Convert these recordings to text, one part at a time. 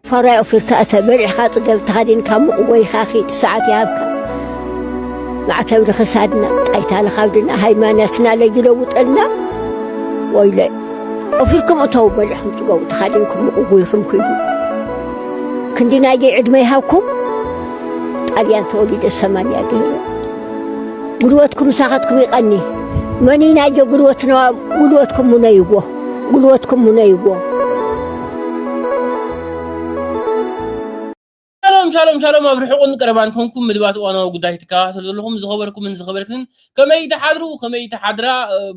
ፋራ ኣውፊርካ እተ፣ በሊዕካ ጽገብ፣ ተኸዲንካ ሙቕ ጎይኻ ኪድ፣ ሰዓት ይሃብካ ማዕተብ ንኽሳድና፣ ጣይታ ንኻብድና፣ ሃይማኖትና ለጅ ለውጠልና፣ ወይለ ኣውፊርኩም እተው፣ በሊዕኩም ጽገቡ፣ ተኸዲንኩም ሙቕ ጎይኹም ኪዱ፣ ክንዲ ናይደይ ዕድመ ይሃብኩም፣ ጣልያን ተወሊደ ሰማንያ ገይረ፣ ጉልበትኩም ምሳኻትኩም ይቐኒ፣ መኒናዮ ጉልበትና፣ ጉልበትኩም ሙነይዎ፣ ጉልበትኩም ሙነይዎ። ሻሎም ሻሎም ሻሎም ኣብ ርሑቕን ቀረባን ኮንኩም ምድባት እዋናዊ ጉዳይ ትከታተሉ ዘለኹም ዝኸበርኩምን ዝኸበርክንን ከመይ ትሓድሩ ከመይ ትሓድራ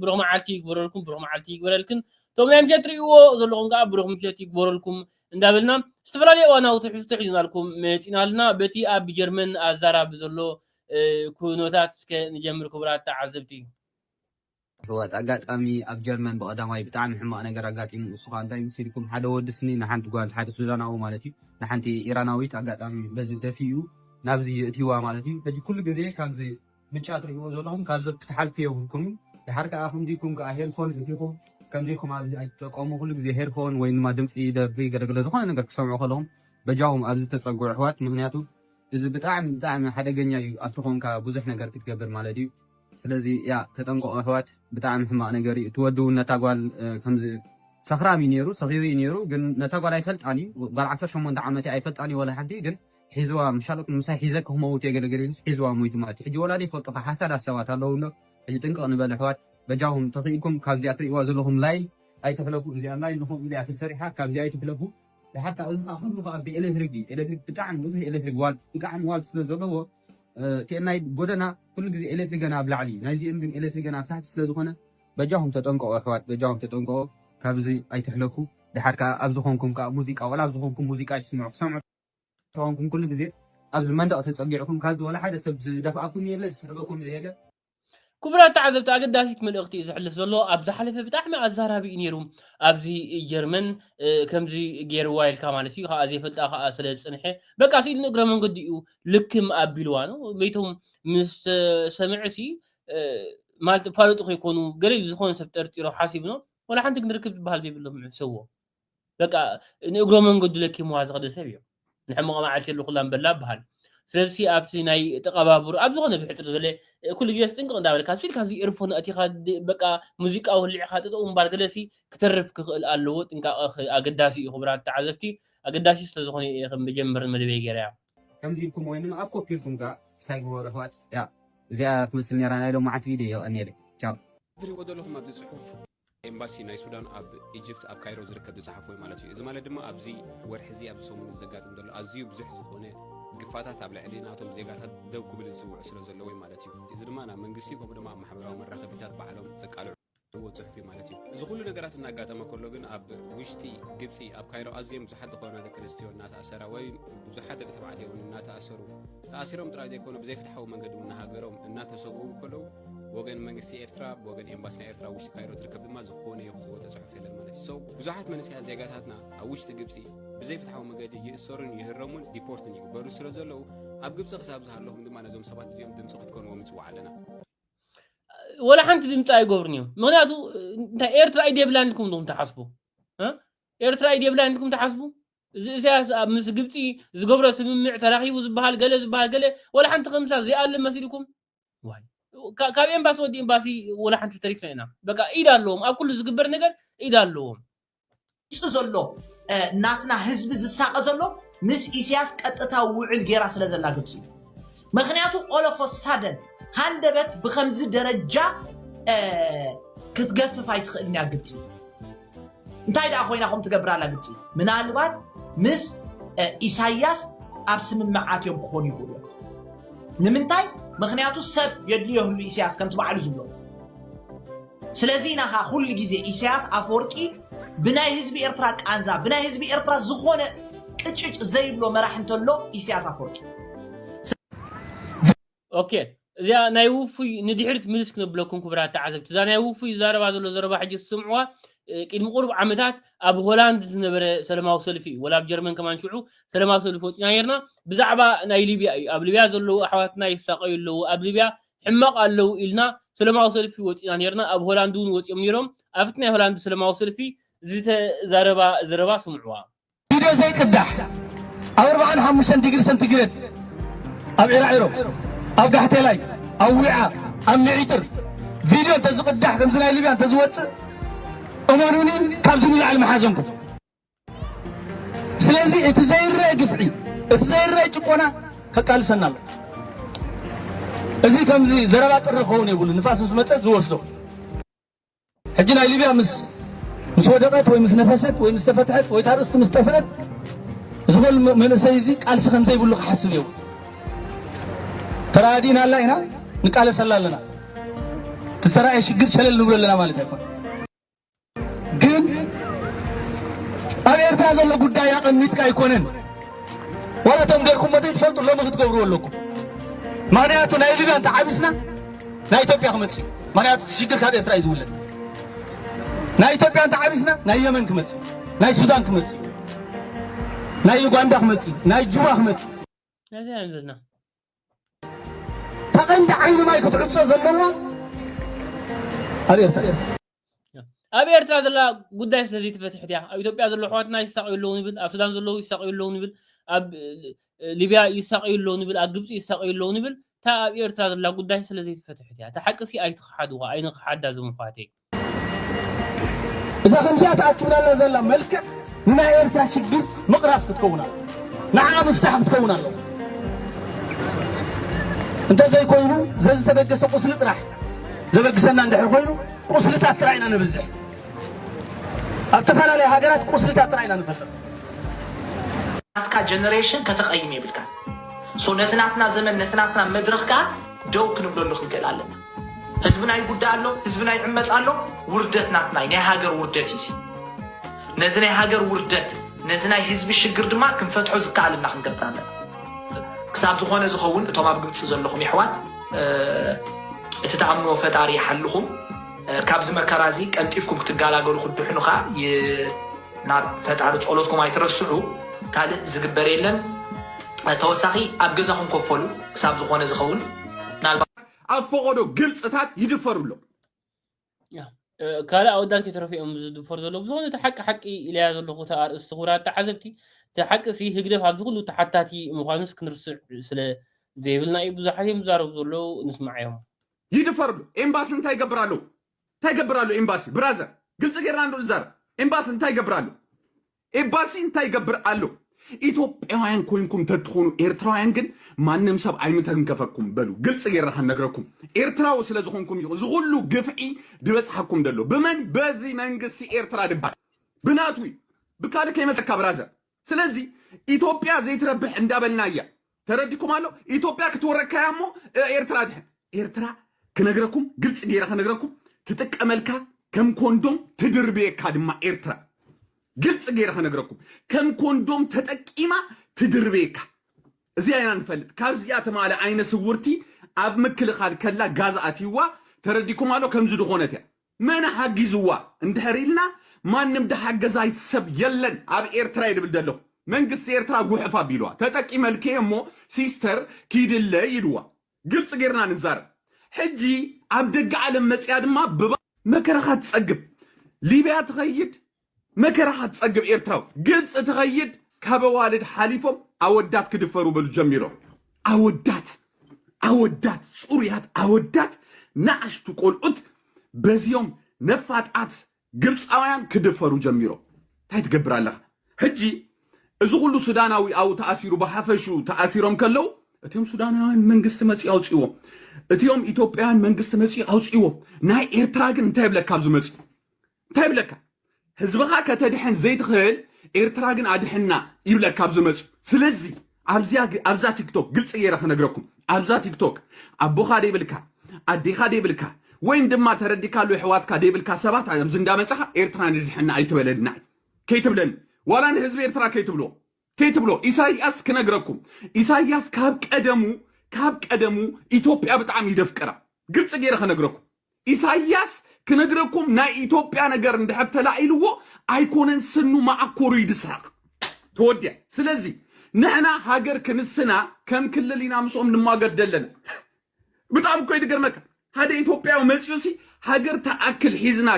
ብሩኽ መዓልቲ ይግበረልኩም ብሩኽ መዓልቲ ይግበረልክን እቶም ናይ ምሸት ትርእይዎ ዘለኹም ከዓ ብሩኽ ምሸት ይግበረልኩም እንዳበልና ዝተፈላለየ እዋናዊ ትሕዝቶ ሒዝናልኩም መፂና ኣለና በቲ ኣብ ጀርመን ኣዛራቢ ዘሎ ኩነታት እስከ ንጀምር ክቡራት ተዓዘብቲ የሕዋት ኣጋጣሚ ኣብ ጀርመን ብቀዳማይ ብጣዕሚ ሕማቅ ነገር ኣጋጢሙ እሱ ከኣ እንታይ መሲልኩም ሓደ ወዲ ስኒ ንሓንቲ ጋል ሓደ ሱዳናዊ ማለት እዩ ንሓንቲ ኢራናዊት ኣጋጣሚ በዚ ደፊኡ ናብዚ የእቲዋ ማለት እዩ ሕጂ ኩሉ ግዜ ካብዚ ምጫ ትሪኢዎ ዘለኩም ካብዚ ክትሓልፉ የብልኩምን ድሓር ከኣ ከምዚ ኢልኩም ከኣ ሄድፎን እቲኩም ከምዚ ኢልኩም ኣብዚ ኣይትጠቀሙ ኩሉ ግዜ ሄድፎን ወይ ድማ ድምጺ ደርፊ ገለገለ ዝኮነ ነገር ክትሰምዑ ከለኩም በጃኩም ኣብዚ ተጸግዑ ኣሕዋት ምክንያቱ እዚ ብጣዕሚ ብጣዕሚ ሓደገኛ እዩ ኣብቲ ኮንካ ብዙሕ ነገር ክትገብር ማለት እዩ። ስለዚ እያ ተጠንቀቁ ኣሕዋት ብጣዕሚ ሕማቅ ነገር እዩ እቲ ወዲ እውን ነታ ጓል ከምዚ ሰኽራም እዩ ኔሩ ሰኺሩ እዩ ኔሩ ግን ነታ ጓል ኣይፈልጣን እዩ ጓል ዓሰርተ ሸሞንተ ዓመት እያ ኣይፈልጣን እዩ ወላ ሓንቲ ግን ሒዝዋ ምሻሎት ምሳይ ሒዘኪ ክመውት እየ ገለገለ ኢሉስ ሒዝዋ ሞይቱ ማለት እዩ ሕጂ ወላ ዘይፈልጡካ ሓሳዳት ሰባት ኣለዉ እንዶ ሕጂ ጥንቅቅ ንበል ኣሕዋት በጃኹም ተኺኢልኩም ካብዚኣ ትርእይዋ ዘለኹም ላይን ኣይትሕለፉ እዚኣ ላይን ንኹም ኢሊያ ተሰሪሓ ካብዚኣ ኣይትሕለፉ ድሓር ከኣ እዚ ከኣ ኩሉ ከኣ እዚ ኤለትሪክ እዩ ኤለትሪክ ብጣዕሚ ብዙሕ ኤለትሪክ ዋልት ብጣዕሚ ዋልት ስለ ዘለዎ ናይ ጎደና ኩሉ ግዜ ኤለትሪክ ገና ኣብ ላዕሊ ናይ እዚኦም ግን ኤለትሪክ ገና ኣብ ታሕቲ ስለ ዝኾነ በጃኹም ተጠንቀቑ ኣሕዋት በጃኹም ተጠንቀቑ ካብዚ ኣይትሕለፉ ድሓር ከኣ ኣብ ዝኾንኩም ከኣ ሙዚቃ ወላ ኣብ ዝኾንኩም ሙዚቃ ኣይትስምዑ ክሰምዑ ተኾንኩም ኩሉ ግዜ ኣብዚ መንደቕ ተጸጊዕኩም ካብዚ ወላ ሓደ ሰብ ዝደፍኣኩም የለ ዝስሕበኩም ዘየለ ክቡራት ተዓዘብቲ ኣገዳሲት መልእኽቲ እዩ ዘሕልፍ ዘሎ ኣብ ዝሓለፈ ብጣዕሚ ኣዛራቢ እዩ ነይሩ ኣብዚ ጀርመን ከምዚ ገይርዋ ኢልካ ማለት እዩ ከዓ ዘይፈልጣ ከዓ ስለ ዝፅንሐ በቃ ስኢሉ ንእግረ መንገዲ እዩ ልክም ኣቢልዋ ነው ቤቶም ምስ ሰምዕ ሲ ማለት ፋለጡ ከይኮኑ ገለ ዝኾነ ሰብ ጠርጢሮ ሓሲቡ ነው ወላ ሓንቲ ክንርክብ ዝበሃል ዘይብሎም ሕሰዎ በቃ ንእግሮ መንገዱ ለኪምዋ ዝኸደ ሰብ እዮም ንሕምቐ መዓልቲ የሉ ኩላ ንበላ በሃል ስለዚ ኣብቲ ናይ ተቐባብሩ ኣብ ዝኾነ ብሕፅር ዝበለ ኩሉ ግዜ ስጥንቅቕ እንዳበልካ ስልካ እዚ ኤርፎን ኣእቲኻ በቃ ሙዚቃ ወሊዕኻ ጠጠው ምባል ገለሲ ክተርፍ ክኽእል ኣለዎ ጥንቃቐ ኣገዳሲ እዩ ክቡራት ተዓዘብቲ ኣገዳሲ ስለዝኾነ እየ ከም መጀመሪ መደበይ ገይረያ ከምዚ ኢልኩም ወይ ኣብ ኮፒ ኢልኩም ከኣ ሳይ ግበሩ ኣሕዋት እዚኣ ትመስል ነይራ ናይ ሎምዓንቲ ቪድዮ የቐንየለይ ቻው ዝሪእዎ ዘለኹም ኣብዚ ፅሑፍ ኤምባሲ ናይ ሱዳን ኣብ ኢጅፕት ኣብ ካይሮ ዝርከብ ዝጸሓፎ እዩ ማለት እዩ እዚ ማለት ድማ ኣብዚ ወርሒ እዚ ኣብዚ ሰሙን ዘጋጥም ዘሎ ኣዝዩ ብዙሕ ዝኾነ ግፋታት ኣብ ልዕሊ ናቶም ዜጋታት ደው ክብል ዝጽውዑ ስለ ዘለዎ እዩ ማለት እዩ እዚ ድማ ናብ መንግስቲ ከምኡ ድማ ኣብ ማሕበራዊ መራኸቢታት ባዕሎም ዘቃልዕዎ ጽሑፍ እዩ ማለት እዩ እዚ ኩሉ ነገራት እናጋጠመ ከሎ ግን ኣብ ውሽጢ ግብፂ ኣብ ካይሮ ኣዝዮም ብዙሓት ዝኾና ደቂ ኣንስትዮ እናተኣሰራ ወይ ብዙሓት ደቂ ተባዕትዮ እውን እናተኣሰሩ ተኣሲሮም ጥራይ ዘይኮነ ብዘይፍትሓዊ መንገዲ እውን ንሃገሮም እናተሰብኡ ከለዉ ብወገን መንግስቲ ኤርትራ ብወገን ኤምባሲ ናይ ኤርትራ ኣብ ውሽጢ ካይሮ ትርከብ ድማ ዝኾነ ይኹን ዝወፀ ፅሑፍ የለን ማለት እዩ ሰው ብዙሓት መንእሰያት ዜጋታትና ኣብ ውሽጢ ግብፂ ብዘይፍትሓዊ መገዲ ይእሰሩን ይህረሙን ዲፖርትን ይግበሩ ስለ ዘለዉ ኣብ ግብፂ ክሳብ ዝሃለኹም ድማ ነዞም ሰባት እዚኦም ድምፂ ክትኮንዎ ምፅዋዕ ኣለና ወላ ሓንቲ ድምፂ ኣይገብሩን እዮም ምክንያቱ እንታይ ኤርትራ ኢድ የብላን ኢልኩም ዶም ትሓስቡ እ? ኤርትራ ኢድ የብላን ኢልኩም ትሓስቡ እዚ እሳያስ ኣብ ምስ ግብፂ ዝገብሮ ስምምዕ ተራኺቡ ዝበሃል ገለ ዝበሃል ገለ ወላ ሓንቲ ከምሳ ዘይኣለ መሲልኩም ዋይ ካብ ኤምባሲ ወዲ ኤምባሲ ወላ ሓንቲ ተሪፍና ኢና በቃ ኢድ ኣለዎም ኣብ ኩሉ ዝግበር ነገር ኢድ ኣለዎም። መሪጹ ዘሎ ናትና ህዝቢ ዝሳቀ ዘሎ ምስ ኢስያስ ቀጥታዊ ውዕል ጌራ ስለ ዘላ ግብጺ እዩ መክንያቱ all of a sudden ሃንደበት ብከምዚ ደረጃ ክትገፍፍ ኣይትክእልን እያ ግብጺ እንታይ ደኣ ኮይና ከም ትገብር ኣላ ግብፂ ምናልባት ምስ ኢሳያስ ኣብ ስምምዓት እዮም ክኾኑ ይኽእሉ እዮም ንምንታይ ምክንያቱ ሰብ የድልዮ ህሉ ኢሳያስ ከምቲ ባዕሉ ዝብሎ ስለዚ ኢና ኸዓ ኩሉ ግዜ ኢሳያስ ኣፈወርቂ ብናይ ህዝቢ ኤርትራ ቃንዛ ብናይ ህዝቢ ኤርትራ ዝኾነ ቅጭጭ ዘይብሎ መራሕ እንተሎ ኢሳያስ ኣፈወርቂ ኦኬ እዚኣ ናይ ውፉይ ንድሕሪት ምልስ ክነብለኩም ክብራት ተዓዘብቲ እዛ ናይ ውፉይ ዛረባ ዘሎ ዘረባ ሕጂ ትስምዕዋ ቅድሚ ቁሩብ ዓመታት ኣብ ሆላንድ ዝነበረ ሰለማዊ ሰልፊ እዩ ወላ ኣብ ጀርመን ከማን ሽዑ ሰለማዊ ሰልፊ ወፂና ነርና ብዛዕባ ናይ ሊብያ እዩ ኣብ ሊብያ ዘለዉ ኣሕዋትና ይሳቀዩ ኣለዉ ኣብ ሊብያ ሕማቕ ኣለዉ ኢልና ሰለማዊ ሰልፊ ወፂና ነርና ኣብ ሆላንድ እውን ወፂኦም ነይሮም ኣብቲ ናይ ሆላንድ ሰለማዊ ሰልፊ ዝተዛረባ ዘረባ ስምዕዋ ቪድዮ ዘይቅዳሕ ኣብ ኣርብዓን ሓሙሽተን ዲግሪ ሰንቲግሬድ ኣብ ዒራዒሮ ኣብ ጋሕቴላይ ኣብ ዊዓ ኣብ ምዒጥር ቪድዮ እንተዝቕዳሕ ከምዚ ናይ ሊብያ እንተዝወፅእ እመኑኒ ካብዚ ንላዕሊ መሓዘንኩም ስለዚ እቲ ዘይረአ ግፍዒ እቲ ዘይረአ ጭቆና ከቃልሰና ኣሎ እዚ ከምዚ ዘረባ ጥሪ ክኸውን የብሉ ንፋስ ምስ መፀት ዝወስዶ ሕጂ ናይ ሊብያ ምስ ምስ ወደቐት ወይ ምስ ነፈሰት ወይ ምስ ተፈትሐት ወይ ታርእስቲ ምስ ጠፍአት እዚ ኾል መንእሰይ እዚ ቃልሲ ከም ዘይብሉ ክሓስብ እየው ተራዲእና ኣላ ኢና ንቃለሰላ ኣለና ትሰራኤ ሽግር ሸለል ንብሎ ኣለና ማለት ኣይኮነ ግን ኣብ ኤርትራ ዘሎ ጉዳይ ኣቐሚጥካ ኣይኮነን ዋላ እቶም ገርኩም መተይ ትፈልጡ ሎሚ ክትገብርዎ ኣለኩም ምክንያቱ ናይ ሊብያ እንተዓቢስና ናይ ኢትዮጵያ ክመጽእ እዩ ምክንያቱ እቲ ሽግር ካብ ኤርትራ እዩ ዝውለድ ናይ ኢትዮጵያ እንተ ዓቢስና ናይ የመን ክመጽእ ናይ ሱዳን ክመጽእ ናይ ዩጋንዳ ክመጽእ ናይ ጁባ ክመጽእ ነዚ ኢና ዘለና ተቐንዲ ዓይኒ ማይ ክትዕጾ ዘለዋ ኣብ ኤርትራ ኣብ ኤርትራ ዘላ ጉዳይ ስለ ዘይተፈትሕት እያ ኣብ ኢትዮጵያ ዘሎ ኣሕዋትና ይሳቀዩ ኣለዉ ንብል ኣብ ሱዳን ዘለዉ ይሳቀዩ ኣለዉ ንብል ኣብ ሊብያ ይሳቀዩ ኣለዉ ንብል ኣብ ግብፂ ይሳቀዩ ኣለዉ ንብል እታ ኣብ ኤርትራ ዘላ ጉዳይ ስለ ዘይተፈትሕት እያ እታ ሓቂ ሲ ኣይትኽሓድዋ ኣይንኽሓዳ ዞም ኣሕዋተይ እዛ ከምዚኣ ተኣኪብናላ ዘላ መልክዕ ንናይ ኤርትራ ሽግር ምቕራፍ ክትከውን ኣለ ንዓ ምፍታሕ ክትከውን ኣለዎ እንተዘይኮይኑ ዘዝተደገሰ ቁስሊ ጥራሕ ዘበግሰና እንድሕር ኮይኑ ቁስልታት ጥራይ ኢና ነብዝሕ። ኣብ ተፈላለየ ሃገራት ቁስልታት ጥራይ ኢና ንፈጥር። ናትካ ጀነሬሽን ከተቐይም የብልካን። ሶ ነቲ ናትና ዘመን ነቲ ናትና መድረኽ ከዓ ደው ክንብለሉ ክንክእል ኣለና። ህዝብና ይጉዳእ ኣሎ፣ ህዝብና ይዕመፅ ኣሎ። ውርደት ናትና እዩ፣ ናይ ሃገር ውርደት እዩ። እዚ። ነዚ ናይ ሃገር ውርደት ነዚ ናይ ህዝቢ ሽግር ድማ ክንፈትሖ ዝከኣለና ክንገብር ኣለና። ክሳብ ዝኾነ ዝኸውን እቶም ኣብ ግብፂ ዘለኹም የሕዋት እቲ ትኣምንዎ ፈጣሪ ይሓልኹም ካብዚ መከራ እዚ ቀልጢፍኩም ክትጋላገሉ ክትድሕኑ ከዓ ናብ ፈጣሪ ጸሎትኩም ኣይትረስዑ ካልእ ዝግበር የለን ተወሳኺ ኣብ ገዛኹም ከፈሉ ክሳብ ዝኾነ ዝኸውን ኣብ ፈቐዶ ግልፅታት ይድፈሩ ኣለዉ ካልእ ኣወዳት ከይተረፉ እዮም ዝድፈሩ ዘለዉ ብዝኾነ እቲ ሓቂ ሓቂ ኢለያ ዘለኹ እቲ ኣርእስቲ ክቡራት ተዓዘብቲ እቲ ሓቂ ሲ ህግደፍ ኣብዚ ኩሉ ተሓታቲ ምዃኑስ ክንርስዕ ስለ ዘይብልና እዩ ብዙሓት እዮም ዝዛረቡ ዘለዉ ንስማዕ እዮም ይድፈርሉ ኤምባሲ እንታይ ይገብር ኣለዉ እንታይ ይገብር ኣሎ ኤምባሲ ብራዘር ግልፂ ጌርና ንዛረብ ኤምባሲ እንታይ ይገብር ኣሎ ኤባሲ እንታይ ይገብር ኣሎ? ኢትዮጵያውያን ኮይንኩም ተትኾኑ ኤርትራውያን ግን ማንም ሰብ ኣይምተንከፈኩም በሉ ግልፂ ገይረ ከነግረኩም ኤርትራዊ ስለ ዝኾንኩም እዩ ዝኹሉ ግፍዒ ድበፅሓኩም ደሎ ብመን በዚ መንግስቲ ኤርትራ ድባል ብናቱ እዩ ብካልእ ከይመፀካ ብራዘር ስለዚ ኢትዮጵያ ዘይትረብሕ እንዳበልና እያ ተረዲኩም ኣሎ ኢትዮጵያ ክትወረካያ እሞ ኤርትራ ድሕን ኤርትራ ክነግረኩም ግልፂ ገይረ ክነግረኩም ትጥቀመልካ ከም ኮንዶም ትድርብየካ ድማ ኤርትራ ግልፂ ገይረ ክነግረኩም ከም ኮንዶም ተጠቂማ ትድርብየካ እዚኣ ኢና ንፈልጥ ካብዚኣ ተማለ ዓይነ ስውርቲ ኣብ ምክልኻል ከላ ጋዝ ኣትይዋ ተረዲኩም ኣሎ ከምዚ ድኾነት እያ መን ሓጊዝዋ እንድሕር ኢልና ማንም ድሓገዛይ ሰብ የለን ኣብ ኤርትራየ ድብል ደለኹ መንግስቲ ኤርትራ ጉሕፍ ኣቢልዋ ተጠቂመልኪየ እሞ ሲስተር ኪድለይ ኢልዋ ግልጺ ጌርና ንዛረብ ሕጂ ኣብ ደገ ዓለም መጺኣ ድማ ብ መከራኻ ትጸግብ ሊብያ ትኸይድ መከራኻ ትጸግብ ኤርትራዊ። ግብጺ ትኸይድ ካብ ኣዋልድ ሓሊፎም ኣወዳት ክድፈሩ በሉ ጀሚሮም ኣወዳት ኣወዳት ጽሩያት ኣወዳት ናኣሽቱ ቆልዑት በዚኦም ነፋጣት ግብጻውያን ክድፈሩ ጀሚሮም ታይ ትገብር ኣለኻ ሕጂ እዚ ኩሉ ሱዳናዊ ኣብኡ ተኣሲሩ ብሓፈሹ ተኣሲሮም ከለው እቲኦም ሱዳናውያን መንግስቲ መፅኡ ኣውፅዎ እቲኦም ኢትዮጵያውያን መንግስቲ መፅኡ ኣውፅዎ ናይ ኤርትራ ግን እንታይ ይብለካ ኣብዚ መፅኡ እንታይ ይብለካ ህዝብኻ ከተድሕን ዘይትኽእል ኤርትራ ግን ኣድሕና ይብለካ ኣብ ዝመጽኡ ስለዚ ኣብዛ ቲክቶክ ግልፂ ገይረ ክነግረኩም ኣብዛ ቲክቶክ ኣቦኻ ደይብልካ ኣዴኻ ደይብልካ ወይም ድማ ተረዲካሉ ኣሕዋትካ ደይብልካ ሰባት ኣብዚ እንዳመፀኻ ኤርትራ ንድሕና ኣይትበለና እዩ ከይትብለኒ ዋላ ንህዝቢ ኤርትራ ከይትብልዎ ከይትብሎ ኢሳያስ ክነግረኩም ኢሳያስ ካብ ቀደሙ ካብ ቀደሙ ኢትዮጵያ ብጣዕሚ ይደፍቅራ ግልፂ ገይረ ከነግረኩም ኢሳያስ ክነግረኩም ናይ ኢትዮጵያ ነገር እንድሕር ተላኢልዎ ኣይኮነን ስኑ ማዓኮሩ ይድስረቕ ተወዲያ ስለዚ ንሕና ሃገር ክንስና ከም ክልል ኢና ምስኦም ንማገድ ደለና ብጣዕሚ እኮ እዩ ዝገርመካ ሓደ ኢትዮጵያዊ መፂኡ ሲ ሃገር ተኣክል ሒዝና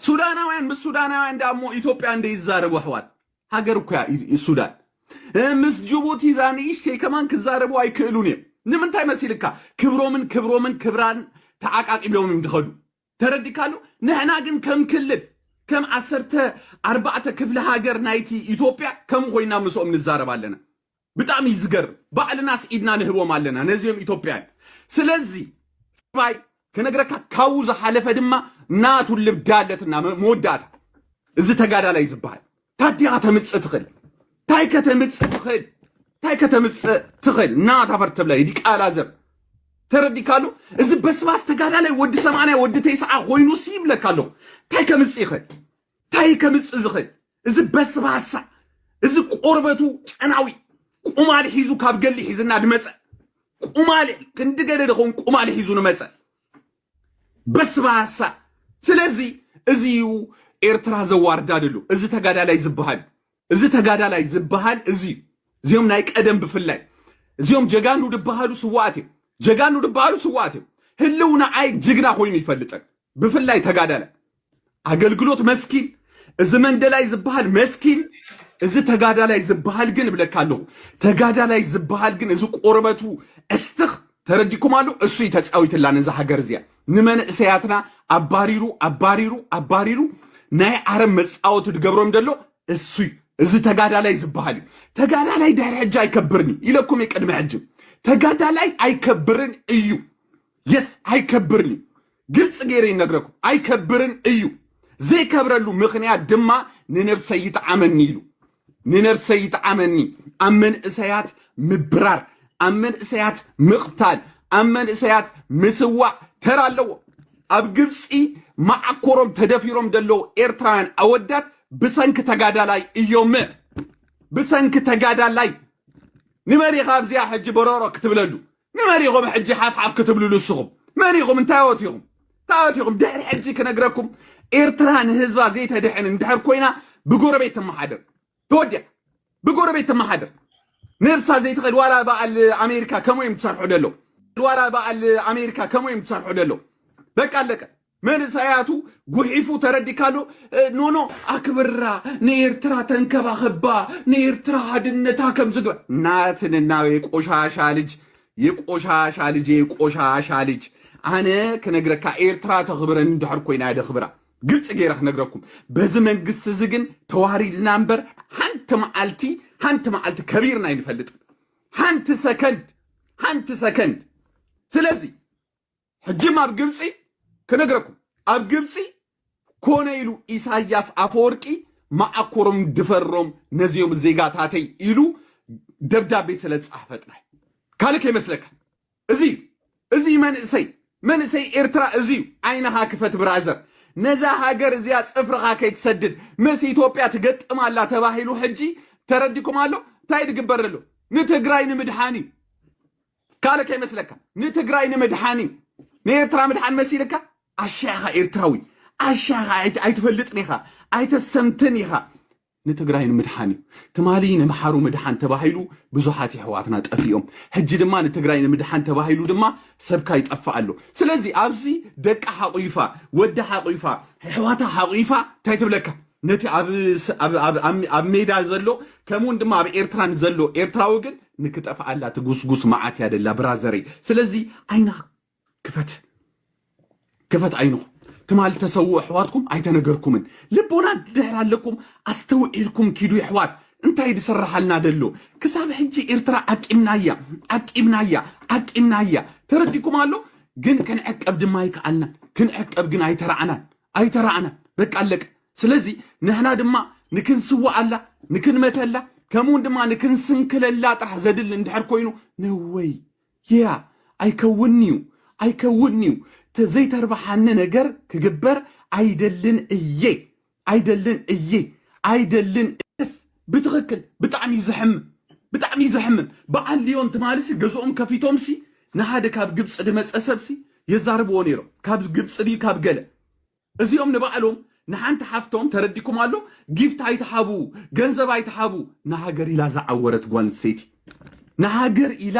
ሱዳናውያን ምስ ሱዳናውያን ዳ እሞ ኢትዮጵያ እንደ ይዛረቡ ኣሕዋት ሃገር እኮ እያ ሱዳን ምስ ጅቡቲ እዛ ንእሽተይ ከማን ክዛረቡ ኣይክእሉን እዮም ንምንታይ መሲልካ ክብሮምን ክብሮምን ክብራን ተዓቃቂቦም እዮም ዝኸዱ ተረዲካሉ ንሕና ግን ከም ክልል ከም ዓሰርተ ኣርባዕተ ክፍለ ሃገር ናይቲ ኢትዮጵያ ከም ኮይና ምስኦም ንዛረብ ኣለና ብጣዕሚ እዩ ዝገርም ባዕልናስ ኢድና ንህቦም ኣለና ነዚኦም ኢትዮጵያን ስለዚ ባይ ክነግረካ ካብኡ ዝሓለፈ ድማ ናቱ ልብዳ ኣለትና መወዳእታ እዚ ተጋዳላይ ዝበሃል ታዲኻ ተምፅእ ትኽእል ታይ ከተምፅእ ትኽእል ታይ ከተምፅእ ትኽእል እና ታፈር ተብላይ ዲቃላ ዘር ተረዲካሉ እዚ በስባስ ተጋዳላይ ወዲ ሰማንያ ወዲ ተይስዓ ኮይኑ ሲ ይብለካ ኣለኹ ታይ ከምፅእ ይኽእል ታይ ከምፅእ ዝኽእል እዚ በስባሳ እዚ ቆርበቱ ጨናዊ ቁማል ሒዙ ካብ ገሊ ሒዝና ድመፀ ቁማል ክንዲ ገለ ድኸውን ቁማል ሒዙ ንመፀ በስባሳ ስለዚ እዚ እዩ ኤርትራ ዘዋርዳ ደሎ እዚ ተጋዳላይ ዝበሃል እዚ ተጋዳላይ ዝበሃል እዚ እዩ እዚኦም ናይ ቀደም ብፍላይ እዚኦም ጀጋኑ ድበሃሉ ስዋኣት እዮም ጀጋኑ ድበሃሉ ስዋኣት እዮም ህልውና ኣይ ጅግና ኮይኑ ይፈልጠን ብፍላይ ተጋዳላይ ኣገልግሎት መስኪን እዚ መንደላይ ዝበሃል መስኪን እዚ ተጋዳላይ ዝበሃል ግን እብለካ ኣለኹ ተጋዳላይ ዝበሃል ግን እዚ ቆርበቱ ዕስትኽ ተረዲኩም ኣሎ እሱ እዩ ተፃዊትላ ነዚ ሃገር እዚኣ ንመንእሰያትና ኣባሪሩ ኣባሪሩ ኣባሪሩ ናይ ዓረብ መፃወቲ ድገብሮም ደሎ እሱ እዩ እዚ ተጋዳላይ ዝበሃል እዩ ተጋዳላይ ድሕሪ ሕጂ ኣይከብርን እዩ ኢለኩም እዩ ቅድሚ ሕጂ ተጋዳላይ ኣይከብርን እዩ የስ ኣይከብርን እዩ ግልፂ ገይረ ይነግረኩም ኣይከብርን እዩ ዘይከብረሉ ምክንያት ድማ ንነብሰይ ይጥዓመኒ ኢሉ ንነብሰይ ይጥዓመኒ ኣብ መንእሰያት ምብራር ኣብ መንእሰያት ምቕታል ኣብ መንእሰያት ምስዋዕ ተራ ኣለዎ ኣብ ግብፂ ማዓኮሮም ተደፊሮም ዘለዉ ኤርትራውያን ኣወዳት ብሰንኪ ተጋዳላይ እዮም ብሰንኪ ተጋዳላይ ንመሪኻ ኣብዚኣ ሕጂ በረሮ ክትብለሉ ንመን ኢኹም ሕጂ ሓፍሓፍ ክትብሉ ንስኹም መን ኢኹም እንታዮት ኢኹም እንታዮት ኢኹም ድሕሪ ሕጂ ክነግረኩም ኤርትራ ንህዝባ ዘይተድሕን እንድሕር ኮይና ብጎረቤት ትመሓደር ተወዲያ ብጎረቤት ትመሓደር ነብሳ ዘይትኸድ ዋላ በዓል ኣሜሪካ ከምኡ እዮም ዝሰርሑ ደለው ዋላ በዓል ኣሜሪካ ከምኡ እዮም ዝሰርሑ ደለው በቃ ኣለቀ መንእሰያቱ ጉሒፉ ተረዲካዶ ኖኖ ኣክብራ ንኤርትራ ተንከባኸባ ንኤርትራ ሃድነታ ከምዝግባ ናትንና የቆሻሻ ልጅ የቆሻሻ ልጅ የቆሻሻ ልጅ ኣነ ክነግረካ ኤርትራ ተኽብረን እንድሕር ኮይና ደኽብራ ግልፂ ገይረ ክነግረኩም በዚ መንግስቲ እዚ ግን ተዋሪድና እምበር ሓንቲ መዓልቲ ሓንቲ መዓልቲ ከቢርና ኣይንፈልጥን ሓንቲ ሰከንድ ሓንቲ ሰከንድ ስለዚ ሕጂም ኣብ ግብፂ ክነግረኩም ኣብ ግብፂ ኮነ ኢሉ ኢሳያስ ኣፈወርቂ መዓኮሮም ድፈሮም ነዚኦም ዜጋታተይ ኢሉ ደብዳቤ ስለ ዝፀሓፈ ጥራይ ካልእ ከይመስለካ እዚ እዩ እዚ እዩ መንእሰይ መንእሰይ ኤርትራ እዚ እዩ ዓይንኻ ክፈት ብራዘር ነዛ ሃገር እዚኣ ፅፍርኻ ከይትሰድድ ምስ ኢትዮጵያ ትገጥም ኣላ ተባሂሉ ሕጂ ተረዲኩም ኣሎ እንታይ ድግበር ኣሎ ንትግራይ ንምድሓን እዩ ካልእ ከይመስለካ ንትግራይ ንምድሓን እዩ ንኤርትራ ምድሓን መሲልካ ኣሻ ኢኻ ኤርትራዊ ኣሻ ኢኻ ኣይ- ኣይትፈልጥን ኢኻ ኣይተሰምትን ኢኻ ንትግራይ ንምድሓን እዩ ትማሊ ንምሓሩ ምድሓን ተባሂሉ ብዙሓት የሕዋትና ጠፊኦም ሕጂ ድማ ንትግራይ ንምድሓን ተባሂሉ ድማ ሰብካ ይጠፍእ ኣሎ ስለዚ ኣብዚ ደቂ ሓቑፋ ወዲ ሓቑፋ ኣሕዋታ ሓቑፋ እንታይ ትብለካ ነቲ ኣብ ስ- ኣብ- ኣብ- ኣብ- ኣብ ሜዳ ዘሎ ከምኡውን ድማ ኣብ ኤርትራ ንዘሎ ኤርትራዊ ግን ንክጠፍኣላ ትጉስጉስ መዓት እያ ደላ ብራዘረይ ስለዚ ዓይና ክፈት ክፈት ዓይንኹም ትማል ተሰውኡ ኣሕዋትኩም ኣይተነገርኩምን ልቦና ድሕር ኣለኩም ኣስተውዒልኩም ኪዱ ይሕዋት እንታይ ድስራሓልና ደሎ ክሳብ ሕጂ ኤርትራ ዓቂምናያ ዓቂምናያ ዓቂምናያ ተረዲኩም ኣሎ ግን ክንዕቀብ ድማ ይከኣልና ክንዕቀብ ግን ኣይተራዕናን ኣይተራእናን በቃ ኣለቀ። ስለዚ ንሕና ድማ ንክንስዋኣላ ንክንመተላ ከምኡውን ድማ ንክንስንክለላ ጥራሕ ዘድሊ እንድሕር ኮይኑ ነወይ ያ ኣይከውን እዩ ኣይከውን እዩ ተዘይተርባሓኒ ነገር ክግበር ኣይደልን እየ ኣይደልን እየ ኣይደልን ብትኽክል ብጣዕሚ እዩ ዘሕምም ብጣዕሚ እዩ ዘሕምም በዓል ልዮን ትማልሲ ገዝኦም ከፊቶምሲ ንሓደ ካብ ግብፂ ድመፀ ሰብሲ የዛርብዎ ነይሮም ካብ ግብፂ ድዩ ካብ ገለ እዚኦም ንባዕሎም ንሓንቲ ሓፍቶም ተረዲኩም ኣሎ ጊፍት ኣይትሓቡ ገንዘብ ኣይትሓቡ ንሃገር ኢላ ዝዓወረት ጓል ኣንስተይቲ ንሃገር ኢላ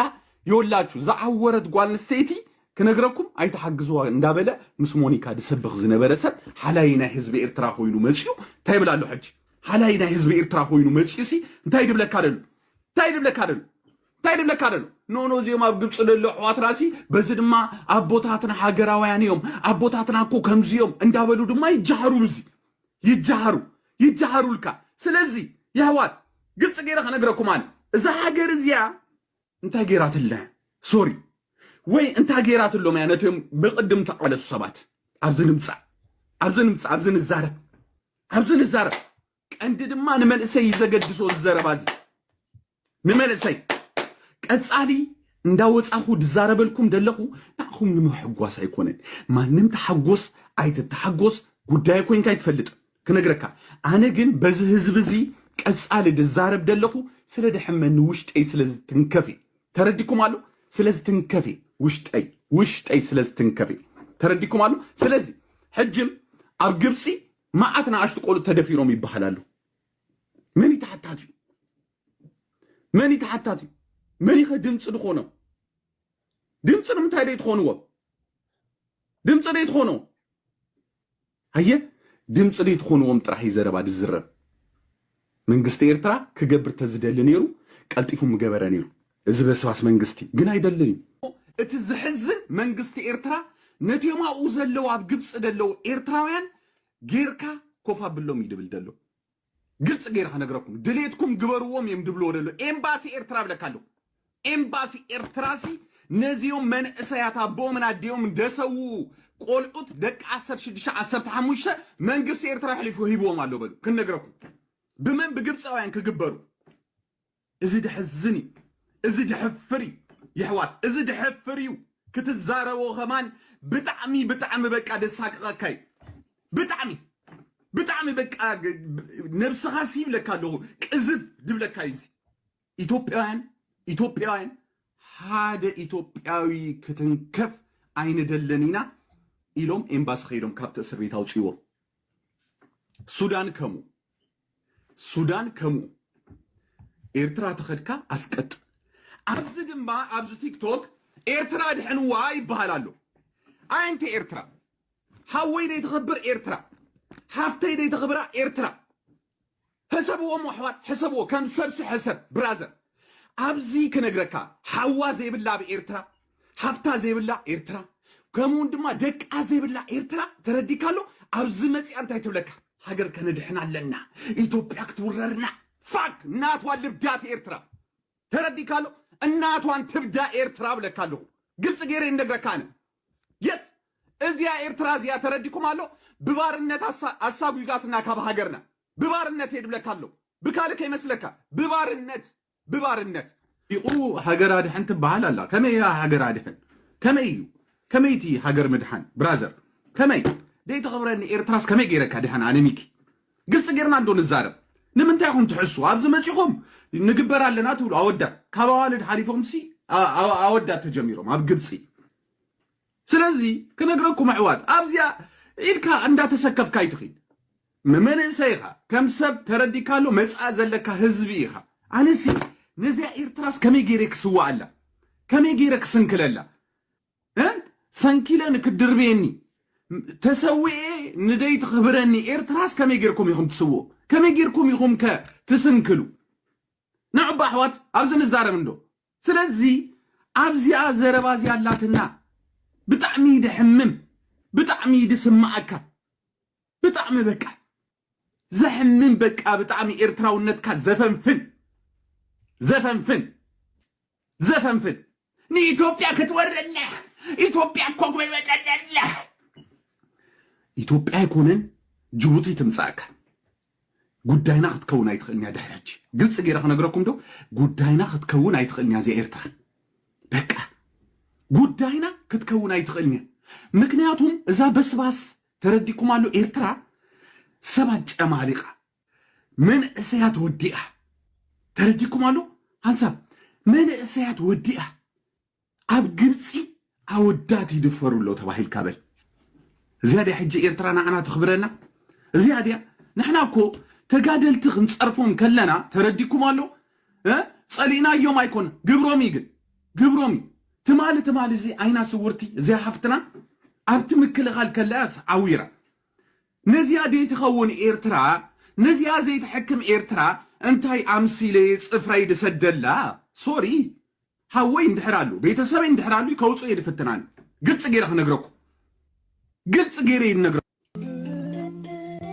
የወላችሁ ዝዓወረት ጓል ኣንስተይቲ ክነግረኩም ኣይትሓግዝዋ እንዳበለ ምስ ሞኒካ ድሰብኽ ዝነበረ ሰብ ሓላይ ናይ ህዝቢ ኤርትራ ኮይኑ መፅኡ እንታይ ይብል ኣሎ ሕጂ ሃላይ ናይ ህዝቢ ኤርትራ ኮይኑ መጺኡሲ እንታይ ድብለካ ደሉ እንታይ ድብለካ ደሉ እንታይ ድብለካ ደሉ ኖኖ እዚኦም ኣብ ግብፂ ደሎ ኣሕዋትናሲ በዚ ድማ ኣቦታትና ሃገራውያን እዮም ኣቦታትና እኮ ከምዚኦም እንዳበሉ ድማ ይጀሃሩ ብዚ ይጀሃሩ ይጀሃሩልካ ስለዚ የሕዋት ግልፂ ገይረ ከነግረኩም ኣነ እዛ ሃገር እዚኣ እንታይ ገይራትልና ሶሪ ወይ እንታይ ገይራትሎም እያ ነቶም ብቕድም ተቓለሱ ሰባት ኣብዚ ንምፃእ ኣብዚ ንምፃእ ኣብዚ ንዛረብ ኣብዚ ንዛረብ ቀንዲ ድማ ንመንእሰይ እዩ ዘገድሶ እዚ ዘረባ እዚ ንመንእሰይ ቀጻሊ እንዳወጻኹ ድዛረበልኩም ደለኹ ንዓኹም ንምሕጓስ ኣይኮነን ማንም ተሓጎስ ኣይትተሓጎስ ጉዳይ ኮንካ ኣይትፈልጥ ክነግረካ ኣነ ግን በዚ ህዝቢ እዚ ቀጻሊ ድዛረብ ደለኹ ስለ ደሕመኒ ውሽጠይ ስለ ዝትንከፍ እዩ ተረዲኩም ኣሎ ስለ ዝትንከፍ እዩ ውሽጠይ ውሽጠይ ስለ ዝትንከፍ እዩ ተረዲኩም ኣሎ ስለዚ ሕጅም ኣብ ግብፂ መዓት ንኣሽቱ ቆልዑ ተደፊሮም ይበሃል ኣሎ መን እዩ ተሓታቲ እዩ መን እዩ ተሓታቲ እዩ መን ይኸ ድምፂ ዝኾኖም ድምፂ ንምንታይ ደይ ትኾንዎም ድምፂ ደይ ትኾኖ ሃየ ድምጺ ደይትኾንዎም ጥራሕ እዩ ዘረባ ድዝረብ መንግስቲ ኤርትራ ክገብር ተዝደሊ ነይሩ ቀልጢፉ ምገበረ ነይሩ እዚ በስባስ መንግስቲ ግን ኣይደልን እዩ። እቲ ዝሕዝን መንግስቲ ኤርትራ ነቲኦም ኣብኡ ዘለዉ ኣብ ግብጺ ደለዉ ኤርትራውያን ጌርካ ኮፍ ኣብሎም እዩ ድብል ደሎ። ግልፂ ገይረ ክነግረኩም ድሌትኩም ግበርዎም እዮም ድብልዎ ደሎ ኤምባሲ ኤርትራ ብለካ ኣለኩ ኤምባሲ ኤርትራሲ ነዚኦም መንእሰያት ኣቦኦምን ኣዴኦምን ደሰውኡ ቆልዑት ደቂ ዓሰርተ ሽዱሽተ ዓሰርተ ሓሙሽተ መንግስቲ ኤርትራ ኣሕሊፉ ሂብዎም ኣሎ በሉ ክንነግረኩም ብመን ብግብፃውያን ክግበሩ እዚ ደሕዝን እዩ እዚ ደሕፍር እዩ የሕዋት እዚ ደሕፍር እዩ ክትዛረቦ ከማን ብጣዕሚ ብጣዕሚ በቃ ደሳቅቀካ እዩ ብጣዕሚ ብጣዕሚ በቃ ነብስኻ ሲ ይብለካ ኣለኹ ቅዝፍ ድብለካ እዩ እዚ ኢትዮጵያውያን ኢትዮጵያውያን ሓደ ኢትዮጵያዊ ክትንከፍ ኣይንደልን ኢና ኢሎም ኤምባሲ ከይዶም ካብቲ እስር ቤት ኣውፅዎም ሱዳን ከምኡ ሱዳን ከምኡ ኤርትራ ተኸድካ ኣስቀጥ ኣብዚ ድማ ኣብዚ ቲክቶክ ኤርትራ ድሕንዋ ይበሃል ኣሎ ኣንተ ኤርትራ ሓወይ ደይተኸብር ኤርትራ ሓፍተይ ደይተኽብራ ኤርትራ ሕሰብዎ እሞ ኣሕዋት ሕሰብዎ ከም ሰብሲ ሕሰብ ብራዘር ኣብዚ ክነግረካ ሓዋ ዘይብላ ኣብ ኤርትራ ሃፍታ ዘይብላ ኤርትራ ከምኡውን ድማ ደቃ ዘይብላ ኤርትራ ተረዲካሎ ኣብዚ መፅኣ እንታይ ትብለካ ሃገር ከነድሕና ኣለና ኢትዮጵያ ክትውረርና ፋክ እናቷ ልብዳት ኤርትራ ተረዲካሎ እናቷን ትብዳ ኤርትራ ብለካ ኣለኹ ግልፂ ገይረ ይነግረካ ኣነ የስ እዚያ ኤርትራ እዚኣ ተረዲኩም ኣሎ ብባርነት ኣሳጒጋትና ካብ ሃገርና ብባርነት የድብለካ ኣሎ ብካልእ ከይመስለካ ብባርነት ብባርነት። ኢቁ ሃገር ኣድሕን ትባሃል ኣላ ከመይ እያ ሃገር ኣድሕን ከመይ እዩ ከመይ እቲ ሃገር ምድሓን ብራዘር ከመይ ደይ ተክብረኒ ኤርትራስ ከመይ ገይረ ከድሕን ኣነ ሚኪ ግልፂ ገይርና እንዶ ንዛረብ ንምንታይ ኢኩም ትሕሱ ኣብዚ መፂኹም ንግበር ኣለና ትብሉ ኣወዳት ካብ ኣዋልድ ሓሊፎም ሲ ኣወዳት ተጀሚሮም ኣብ ግብፂ ስለዚ ክነግረኩም ኣሕዋት ኣብዚኣ ኢድካ እንዳተሰከፍካ ኣይትኺድ ንመንእሰይኻ ከም ሰብ ተረዲካሉ መጻኢ ዘለካ ህዝቢ ኢኻ ኣነሲ ነዚኣ ኤርትራስ ከመይ ገይረ ክስዋኣላ ከመይ ገይረ ክስንክለላ እ ሰንኪለ ንክድርብየኒ ተሰዊኤ ንደይ ትኽብረኒ ኤርትራስ ከመይ ገይርኩም ኢኹም ትስውኡ ከመይ ገይርኩም ኢኹም ከ ትስንክሉ ንዑባ ኣሕዋት ኣብዚ ንዛረብ እንዶ ስለዚ ኣብዚኣ ዘረባ እዚኣ ኣላትና ብጣዕሚ እዩ ደሕምም ብጣዕሚ እዩ ድስማኣካ ብጣዕሚ በቃ ዘሕምም በቃ ብጣዕሚ ኤርትራውነትካ ዘፈንፍን ዘፈንፍን ዘፈንፍን ንኢትዮጵያ ክትወረና ኢትዮጵያ እኮ ጎይበጠለላ ኢትዮጵያ ኣይኮነን ጅቡቲ ትምጻእካ ጉዳይና ክትከውን ኣይትኽእልን እያ ድሕሪ ሕጂ ግልፂ ገይረ ክነግረኩም ዶ ጉዳይና ክትከውን ኣይትኽእልን እያ እዚኣ ኤርትራ በቃ ጉዳይና ክትከውን ኣይትኽእልን እያ ምክንያቱም እዛ በስባስ ተረዲኩም ኣሎ ኤርትራ ሰባት ጨማሊቃ መንእሰያት ወዲኣ ተረዲኩም ኣሎ ሃንሳብ መንእሰያት ወዲኣ ኣብ ግብጺ ኣወዳት ይድፈሩ ኣሎ ተባሂልካ በል እዚኣ ድያ ሕጂ ኤርትራ ንዓና ተኽብረና እዚኣ ድያ ንሕና እኮ ተጋደልቲ ክንጸርፎም ከለና ተረዲኩም ኣሎ ጸሊእናዮም ኣይኮን ግብሮም እዩ ግን ግብሮም እዩ ትማሊ ትማሊ እዚ ዓይና ስውርቲ እዚኣ ሓፍትና ኣብቲ ምክልኻል ከለኣስ ዓዊራ ነዚኣ ደይ ትኸውን ኤርትራ ነዚኣ ዘይትሕክም ኤርትራ እንታይ ኣምሲለ ጽፍረይ ድሰደላ ሶሪ ሐወይ እንድሕር ኣሉ ቤተሰበይ እንድሕር ኣሉ ከውጽኦ ኢየ ድፍትን ኣነ ግልጽ ገይረ ክነግረኩም ግልጽ ገይረ ኢየ ድነግረ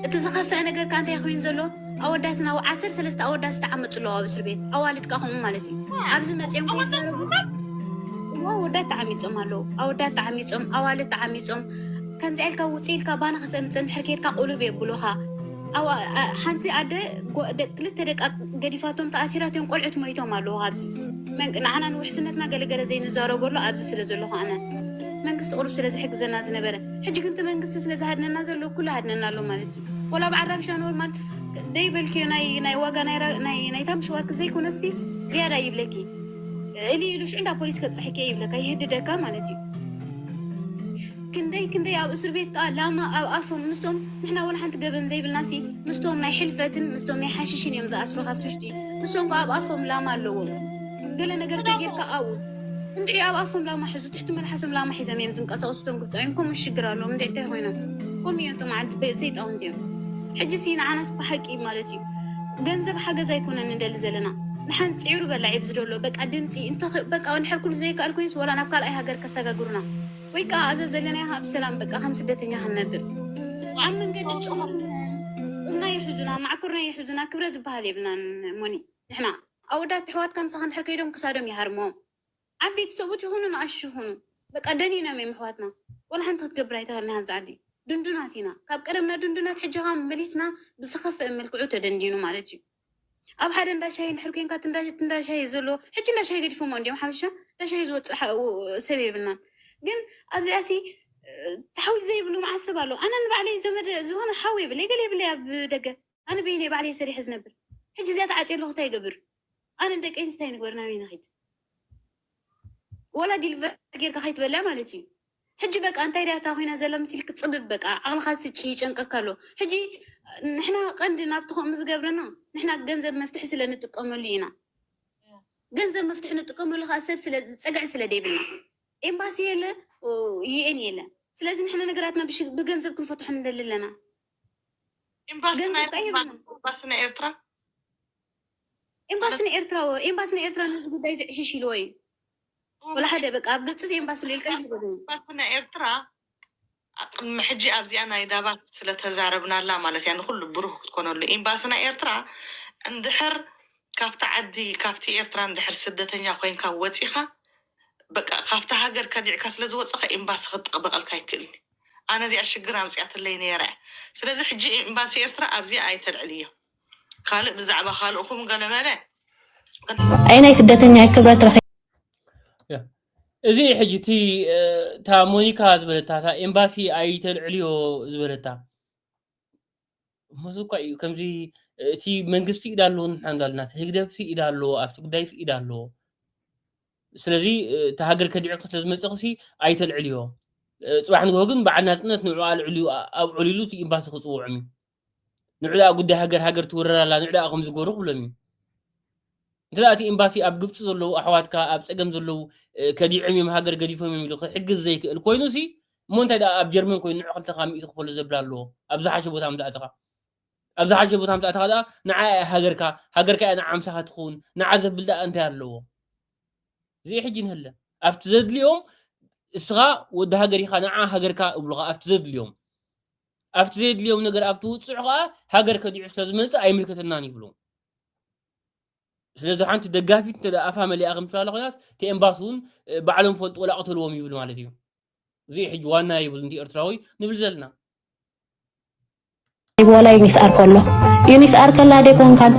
እቲ ዝኸፍአ ነገር ከኣ እንታይ ኮይኑ ዘሎ ኣወዳትና ኣብ ዓሰርተ ሰለስተ ኣወዳት ዝተዓመፁ ኣለዋ ኣብ እስር ቤት ኣዋልድ ከኣ ከምኡ ማለት እዩ ኣብዚ መፅኦም ከይዛረቡ ኣወዳት ተዓሚፆም ኣለዉ ኣወዳት ተዓሚፆም ኣዋልድ ተዓሚፆም ከምዚኣ ኢልካ ውፅእ ኢልካ ባና ከተምፅእ እንድሕር ከይድካ ቁልብ የብሉኻ ሓንቲ ኣደ ክልተ ደቃ ገዲፋቶም ተኣሲራ እትዮም ቆልዑት ሞይቶም ኣለዉ ካብዚ ንዓና ንውሕስነትና ገለገለ ዘይንዛረበሉ ኣብዚ ስለ ዘለኹ ኣነ መንግስቲ ቅሩብ ስለ ዝሕግዘና ዝነበረ ሕጂ ግን እቲ መንግስቲ ስለ ዝሃድነና ዘሎ ኩሉ ሃድነና ኣሎ ማለት እዩ ወላ ኣብ ዓራብሻ ኖርማል ደይበልክዮ ናይ ዋጋ ናይታ ምሸዋርክ ዘይኮነሲ ዝያዳ ይብለኪ እሊ ኢሉ ሽዑ እንዳ ፖሊስ ከብፅሐኪ ይብለካ ይህድደካ ማለት እዩ ክንደይ ክንደይ ኣብ እሱርቤት ከኣ ላማ ኣብ ኣፎም ምስቶም ንሕና ወላ ሓንቲ ገበን ዘይብልናሲ ምስቶም ናይ ሕልፈትን ምስቶም ናይ ሓሽሽን እዮም ዝኣስሩ ካብቲ ውሽጢ ንሶም ከኣ ኣብ ኣፎም ላማ ኣለዎም ገለ ነገር ተጌርካ ኣብኡ እንድዒ ኣብ ኣፎም ላማ ሕዙ ትሕቲ መልሓሶም ላማ ሒዞም እዮም ዝንቀሳቀሱ እቶም ግብጻውያን ከምኡ ሽግር ኣለዎም እንድዒ እንታይ ኮይኖም ከምኡ እዮም እቶም ዓዲ ሰይጣውንቲ እዮም ሕጂሲ ንዓናስ ብሓቂ ማለት እዩ ገንዘብ ሓገዝ ኣይኮነን ንደሊ ዘለና ንሓን ጽዒሩ በላዒ ብዝደሎ በቃ ድምጺ እንተ በቃ እንድሕር ኩሉ ዘይከኣል ኮይኑስ ወላ ናብ ካልኣይ ሃገር ከሰጋግሩና ወይ ከዓ ኣዘ ዘለናዮ ኣብ ሰላም በቃ ከም ስደተኛ ክንነብር ኣብ መንገዲ ፅሑፍ እምና ይሕዙና ማዕኩርና ይሕዙና ክብረ ዝበሃል የብልናን ሞኒ ንሕና ኣወዳት ኣሕዋትካ ምሳኻ እንድሕር ከይዶም ክሳዶም ይሃርሞም ዓበይቲ ሰብኡት ይኹኑ ንኣሽቱ ይኹኑ በቃ ደኒኖም እዮም ኣሕዋትና ወላ ሓንቲ ክትገብር ኣይተኸልናይ ኣብዚ ዓዲ ድንዱናት ኢና ካብ ቀደምና ድንዱናት ሕጂ ኸዓ መሊስና ብዝኸፍእ መልክዑ ተደንዲኑ ማለት እዩ ኣብ ሓደ እንዳ ሻሂ እንድሕር ኮንካ እቲ እንዳ እቲ እንዳ ሻሂ ዘሎ ሕጂ እንዳ ሻሂ ገዲፎሞ እንዲዮም ሓፈሻ እንዳ ሻሂ ዝወፅእ ሓ- ው- ሰብ የብልናን ግን ኣብዚኣ ሲ ሓውሊ ዘይብሉ መዓት ሰብ ኣሎ ኣነ ንባዕለይ ዘመድ ዝኾነ ሓው የብለይ ገለ የብለይ ኣብ ደገ ኣነ በይነይ ባዕለይ ሰሪሐ ዝነብር ሕጂ እዚኣ ተዓፅየ ኣለኹ እንታይ ይገብር ኣነ ደቀይ እንታይ ንግበር ናበይ ንኺድ ወላ ዲልቨር ጌርካ ከይትበልዕ ማለት እዩ ሕጂ በቃ እንታይ ድያ እታ ኮይና ዘላ መሲልኪ ጽብብ በቃ ዓቅልካ ስጪ ይጨንቀካ ኣሎ ሕጂ ንሕና ቀንዲ ናብቲ ከምኡ ዝገብረና ንሕና ገንዘብ መፍትሒ ስለ ንጥቀመሉ ኢና ገንዘብ መፍትሒ ንጥቀመሉ ከኣ ሰብ ስለ ጸግዒ ስለ ደይብልና ኤምባሲ የለ ዩኤን የለ ስለዚ ንሕና ነገራትና ብሽ- ብገንዘብ ክንፈትሖ ንደሊ ኣለና ኤምባሲ ገንዘብ ናይ- ቀይሩ ነው። ኤምባሲ ናይ ኤርትራ ኤምባሲ ንኤርትራ ወ- ኤምባሲ ንኤርትራ ነዚ ጉዳይ እዚ ዕሽሽ ኢልዎ እዩ ወላ ሓደ በቃ ኣብ ግብጺ ኤምባሲ ልኢልካ ዝብል ኤምባሲ ናይ ኤርትራ ቅድሚ ሕጂ ኣብዚኣ ናይ ዳባት ስለ ተዛረብናላ ማለት እያ ንኩሉ ብሩህ ክትኮነሉ ኤምባሲ ናይ ኤርትራ እንድሕር ካብቲ ዓዲ ካብቲ ኤርትራ እንድሕር ስደተኛ ኮይንካ ወጺካ በቃ ካብቲ ሃገር ከዲዕካ ስለ ዝወጸካ ኤምባሲ ክጠቅበቀልካ ኣይክእልን እዩ ኣነ እዚኣ ሽግር ኣምጺኣትለይ ነይራ እያ ስለዚ ሕጂ ኤምባሲ ኤርትራ ኣብዚኣ ኣይተልዕልዮ ካልእ ብዛዕባ ካልእኹም ገለ በለ ኣይ ናይ ስደተኛ ኣይ ክብረት ረኺ እዚ ሕጂ እቲ እታ ሞኒካ ዝበለታ እታ ኤምባሲ ኣይተልዕልዮ ዝበለታ መዚ እኳ እዩ ከምዚ እቲ መንግስቲ ኢዳ ኣለዎ ንሕና እንዳልና እቲ ህግደፍ ሲ ኢዳ ኣለዎ ኣብቲ ጉዳይ ሲ ኢዳ ኣለዎ ስለዚ እቲ ሃገር ከዲዕኪ ስለ ዝመፅኺ ሲ ኣይተልዕልዮ ፅባሕ ንግሆ ግን በዓል ናፅነት ንዕኡ ኣልዕልዩ ኣብዕልሉ እቲ ኤምባሲ ክፅውዖም እዩ ንዕዳኣ ጉዳይ ሃገር ሃገር ትውረር ኣላ ንዕዳኣ ከም ዝገበሩ ክብሎም እዩ እንተ እቲ ኤምባሲ ኣብ ግብፂ ዘለዉ ኣሕዋትካ ኣብ ፀገም ዘለዉ ከዲዖም እዮም ሃገር ገዲፎም እዮም ኢሉ ክሕግዝ ዘይክእል ኮይኑ ሲ እሞ እንታይ ደኣ ኣብ ጀርመን ኮይኑ ንዕ ክልተካ ሚእቲ ክፈሉ ዘብል ኣለዎ ኣብ ዝሓሸ ቦታ ምዛእተኻ ኣብ ዝሓሸ ቦታ ምዛእተኻ ደኣ ንዓ ሃገርካ ሃገርካ እያ ንዓምሳኻ ትኸውን ንዓ ዘብል ደኣ እንታይ ኣለዎ እዚ ሕጂ ንህለ ኣብቲ ዘድልዮም እስኻ ወዲ ሃገር ኢኻ ንዓ ሃገርካ እብሉኻ ኣብቲ ዘድልዮም ኣብቲ ዘየድልዮም ነገር ኣብቲ ውፅዑ ከዓ ሃገር ከዲዑ ስለዝመፅእ ኣይምልከተናን ይብሉ ስለዚ ሓንቲ ደጋፊት እንተ ኣፋ መሊኣ ከም ትላለ ኮይናስ እቲ ኤምባሲ እውን ባዕሎም ፈልጡ ወላ ቅተልዎም ይብል ማለት እዩ እዚ ሕጂ ዋና ይብል እንዲ ኤርትራዊ ንብል ዘለና ይብወላ ዩኒስ ኣር ከሎ ዩኒስ ኣር ከላ ደ ኮንካን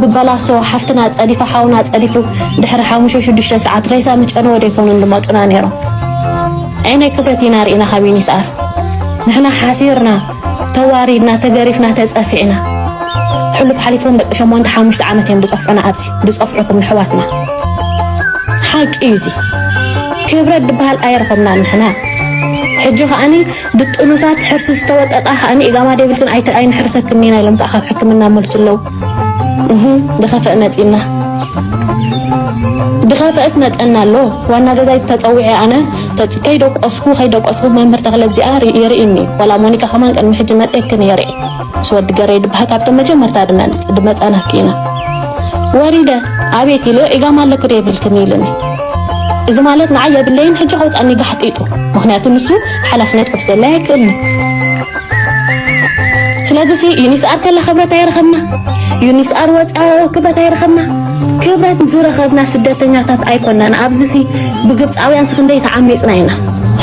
ብበላሶ ሓፍትና ፀዲፋ ሓውና ፀዲፉ ድሕሪ ሓሙሽተ ሽዱሽተ ሰዓት ሬሳ ምጨነወ ደ ኮኑ ዝመጡና ነይሮም ኣየናይ ክብረት ኢና ርኢና ካብ ዩኒስኣር ንሕና ሓሲርና ተዋሪድና ተገሪፍና ተጸፊዕና ሕሉፍ ሓሊፎም ደቂ ሸሞንተ ሓሙሽተ ዓመት እዮም ዝጸፍዑና ኣብዚ ዝጸፍዑኹም ንሕዋትና ሓቂ እዩ እዚ ክብረት ድበሃል ኣይረኸብና ንሕና ሕጂ ከዓኒ ድጥኑሳት ሕርሲ ዝተወጠጣ ከዓኒ ኢጋማ ደብልክን ኣይተ ኣይንሕርሰክን ኢና ኢሎም ከዓ ካብ ሕክምና መልሱ ኣለዉ ድኸፍእ መጺና ድኸፍእስ መጸና ኣሎ ዋና ገዛይ ተጸዊዐ ኣነ ከይደቆስኩ ከይደቆስኩ መምህር ተኽለ እዚኣ የርእኒ ዋላ ሞኒካ ከማን ቅድሚ ሕጂ መጽየክን የርኢ ምስ ወዲ ገረይ ድበሃል ካብቶም መጀመርታ ድመልጽ ድመጸናኪ ኢና ወሪደ ኣቤት ኢለ ኢጋማ ኣለኩ ዶ የብልክን ኢልኒ እዚ ማለት ንዓይ የብለይን ሕጂ ከውፃኒ ጋሕጢጡ ምክንያቱ ንሱ ሓላፍነት ክወስደለይ ኣይክእልኒ ስለዚ ሲ ዩኒስኣር ከላ ክብረት ኣይረኸብና ዩኒስኣር ወፅኣ ክብረት ኣይረኸብና ክብረት ዝረኸብና ስደተኛታት ኣይኮናን ኣብዚ ሲ ብግብፃውያን ስክንደይ ተዓሚፅና ኢና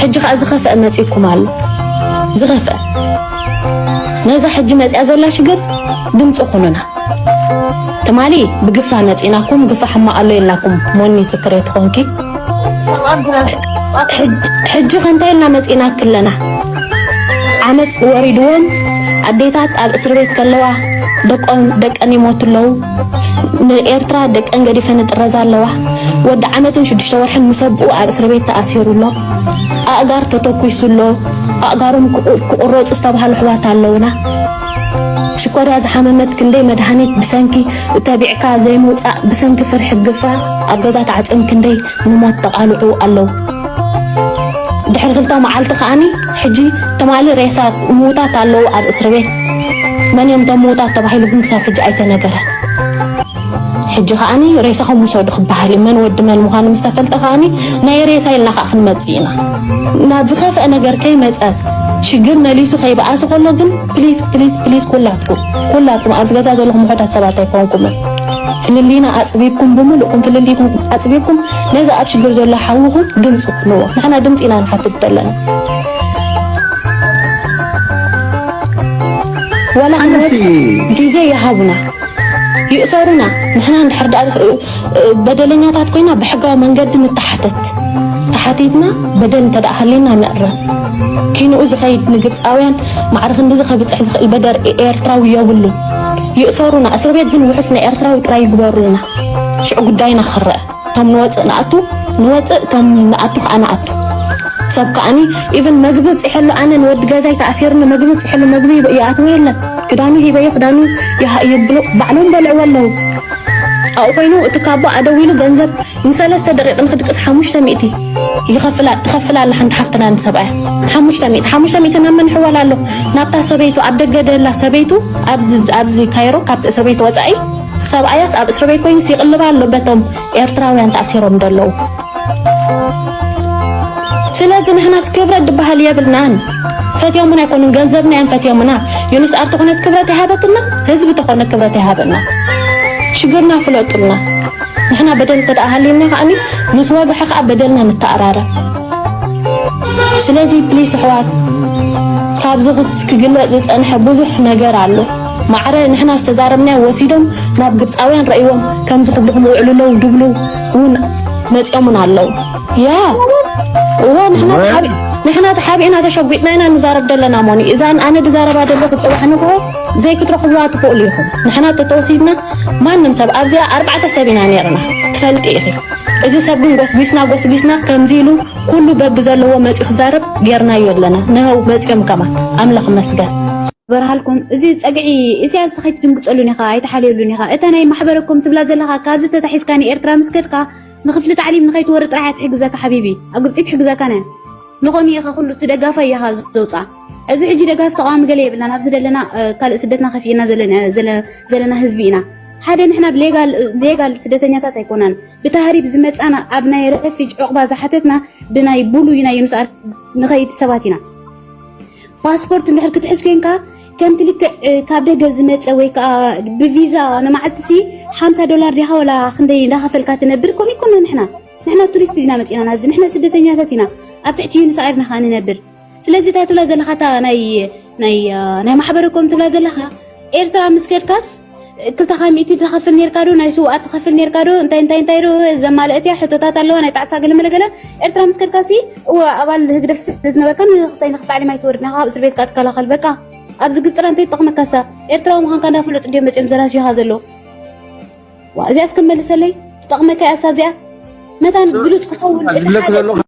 ሕጂ ከዓ ዝኸፍአ መፂኩም ኣሎ ዝኸፍአ ነዛ ሕጂ መፅያ ዘላ ሽግር ድምፂ ኩኑና ትማሊ ብግፋ መፂናኩም ግፋ ሕማቅ ኣሎ ኢልናኩም ሞኒ ዝክሬ ትኾንኪ ሕጂ ከ እንታይ ኢልና መጺእናኪ ኣለና? ዓመጽ ወሪድወን ኣዴታት ኣብ እስሪ ቤት ከለዋ ደቀን ይሞቱ ኣለዉ። ንኤርትራ ደቀን ገዲፈን ይጥረዛ ኣለዋ። ወዲ ዓመትን ሽዱሽተ ወርሕን ምስ ኣቦኡ ኣብ እስሪ ቤት ተኣሲሩ ኣሎ። ኣእጋር ተተኲሱ ኣሎ። ኣእጋሮም ክቑረጹ ዝተባህሉ ኣሕዋት ኣለዉና። ሽኮርያ ዝሓመመት ክንደይ መድሃኒት ብሰንኪ እተቢዕካ ዘይምውጻእ ብሰንኪ ፍርሒ ግፋ ኣብ ገዛ ተዓጽዮም ክንደይ ንሞት ተቓልዑ ኣለው ድሕሪ ክልተ መዓልቲ ከኣኒ ሕጂ ትማሊ ሬሳ ምውታት ኣለው ኣብ እስርቤት መን እዮም እቶም ምውታት ተባሂሉ ግን ክሳብ ሕጂ ኣይተነገረን። ሕጂ ከኣኒ ሬሳኹም ውሰዱ ክበሃል እዩ። መን ወዲ መን ምዃኑ ምስ ተፈልጠ ከኣኒ ናይ ሬሳ ኢልና ከኣ ክንመጽእ ኢና። ናብ ዝኸፍአ ነገር ከይመጸ ሽግር መሊሱ ከይበኣሰ ከሎ ግን ፕሊስ ፕሊስ ፕሊስ ኩላትኩም ኩላትኩም ኣብዚ ገዛ ዘለኹም ውሑዳት ሰባት ኣይኮንኩምን ፍልልይና ኣጽቢብኩም ብምሉእኩም ፍልልይኩም ኣጽቢብኩም ነዚ ኣብ ሽግር ዘሎ ሓውኹም ድምፂ ኩንዎ። ንሕና ድምፂ ኢና ንሓትት ዘለና። ዋላ ክንወጽእ ግዜ ይሃቡና። ይእሰሩና ንሕና እንድሕር ድኣ በደለኛታት ኮይና ብሕጋዊ መንገዲ ንተሓተት ተሓቲትና በደል እንተ ድኣ ሃልዩና ንእረም ኪንኡ ዝኸይድ ንግብፃውያን ማዕረ ክንድዚ ከብፅሕ ዝኽእል በደር ኤርትራዊ የብሉን ይእሰሩና እስር ቤት ግን ውሑስ ናይ ኤርትራዊ ጥራይ ይግበሩልና ሽዑ ጉዳይና ክረአ እቶም ንወፅእ ንኣቱ ንወፅእ እቶም ንኣቱ ከዓ ንኣቱ ሰብ ከዓኒ ኢቨን መግቢ ብፅሐሉ ኣነ ንወዲ ገዛይ ተኣሲርኒ መግቢ ብፅሐሉ መግቢ ይኣትዎ የለን ክዳኑ ሂበዮ ክዳኑ ይብሉ ባዕሎም በልዕዎ ኣለዉ ኣብኡ ኮይኑ እቲ ካቦ ኣደዊሉ ገንዘብ ንሰለስተ ደቂቕ ንክድቅስ ሓሙሽተ ሚእቲ ይኸፍላ ትኸፍላ ኣላ ሓንቲ ሓፍትና ንሰብኣያ ሓሙሽተ ሚእቲ ሓሙሽተ ሚእቲ ናብ መን ሕወላ ኣሎ ናብታ ሰበይቱ ኣብ ደገ ደላ ሰበይቱ ኣብዚ ካይሮ ካብቲ ሰበይቱ ወፃኢ ሰብኣያስ ኣብ እስርቤት ኮይኑስ ይቕልብ ኣሎ በቶም ኤርትራውያን ተኣሲሮም ደለዉ ስለዚ ንሕናስ ክብረት ድበሃል የብልናን ፈትዮሙና ኣይኮኑን ገንዘብና እዮም ፈትዮሙና ዩኒስ ኣር ተኾነት ክብረት ይሃበትና ህዝቢ ተኾነ ክብረት ይሃበና ሽግርና ፍለጡልና ንሕና በደል ተደኣ ሃሊና ከዓኒ ምስ ወግሐ ከዓ በደልና ንተኣራረ ስለዚ ፕሊስ ኣሕዋት ካብዚ ክግለፅ ዝፀንሐ ብዙሕ ነገር ኣሎ ማዕረ ንሕና ዝተዛረብናዮ ወሲዶም ናብ ግብጻውያን ረእይዎም ከምዚ ክብሉ ክምውዕሉ ኣለዉ ድብሉ ውን መጺኦሙና ኣለዉ ያ እወ ንሕና ንሕና ተሓቢእና ተሸጒጥና ኢና ንዛረብ ዘለና ሞኒ እዛ ኣነ ድዛረባ ደለኹ ፅባሕ ንግሆ ዘይክትረኽብዋ ትኽእሉ ኢኹም ንሕና ተተወሲድና ማንም ሰብ ኣብዚኣ ኣርባዕተ ሰብ ኢና ነርና ትፈልጢ ኢኺ እዚ ሰብ ግን ጎስጒስና ጎስጒስና ከምዚ ኢሉ ኩሉ በቢ ዘለዎ መፂኡ ክዛረብ ጌርናዮ ኣለና ንሀው መፂኦም ከማ ኣምላኽ መስገን በርሃልኩም እዚ ጸግዒ ኢሳያስ ከይትድንግጸሉን ኢኻ ኣይትሓልየሉን ኢኻ እታ ናይ ማሕበረኮም ትብላ ዘለኻ ካብዚ ተታሒዝካ ንኤርትራ ምስ ከድካ ንክፍሊ ታዕሊም ንኸይትወሪ ጥራሕ እያ ትሕግዘካ ሓቢቢ ኣብ ግብጺ ትሕግዘካነ ንኾም ኢኻ ኩሉ እቲ ደጋፋይ ኢኻ ዘውጽኣ እዚ ሕጂ ደጋፊ ተቃዋሚ ገለ የብልናን ኣብዚ ዘለና ካልእ ስደትና ከፊእና ዘለና ህዝቢ ኢና ሓደ ንሕና ብሌጋል ስደተኛታት ኣይኮናን ብታህሪብ ዝመፃና ኣብ ናይ ረፊጅ ዕቑባ ዝሓተትና ብናይ ቡሉይ ናይ ዩኑስ ንኸይድ ሰባት ኢና ፓስፖርት እንድሕር ክትሕዝ ኮንካ ከምቲ ልክዕ ካብ ደገ ዝመፀ ወይ ከዓ ብቪዛ ንመዓልቲ ሲ ሓምሳ ዶላር ዲኻ ወላ ክንደይ እንዳኸፈልካ ትነብር ከምኡ ይኮነ ንሕና ንሕና ቱሪስት ኢና መፂና ናብዚ ንሕና ስደተኛታት ኢና ኣብ ትሕቲ ዩኒስ ኣየርና ከዓ ንነብር ስለዚ እታ ትብላ ዘለካ እታ ናይ ናይ ናይ ማሕበረኮም ትብላ ዘለካ ኤርትራ ምስ ከድካስ ክልተኻ ሚእቲ ትኸፍል ነርካ ዶ ናይ ስውኣት ትኸፍል ነርካ ዶ እንታይ እንታይ እንታይ ዶ ዘማልእት እያ ሕቶታት ኣለዋ ናይ ጣዕሳ ገለመለገለ ኤርትራ ምስ ከድካ ሲ እወ ኣባል ህግደፍ ስለዝነበርካ ንክሳይ ንክሳዕሊም ኣይትወርድ ናኻ ካብ እስር ቤትካ ትከላኸል በቃ ኣብዚ ግፅራ እንታይ ይጠቕመካሳ ኤርትራዊ ምዃንካ እንዳፍለጡ እንዲዮም መፅኦም ዘራሽኻ ዘሎ ዋ እዚኣስ ከመልሰለይ ትጠቕመካ እያሳ እዚኣ መታን ግሉፅ ክኸውን ዝብለክ ዘሎ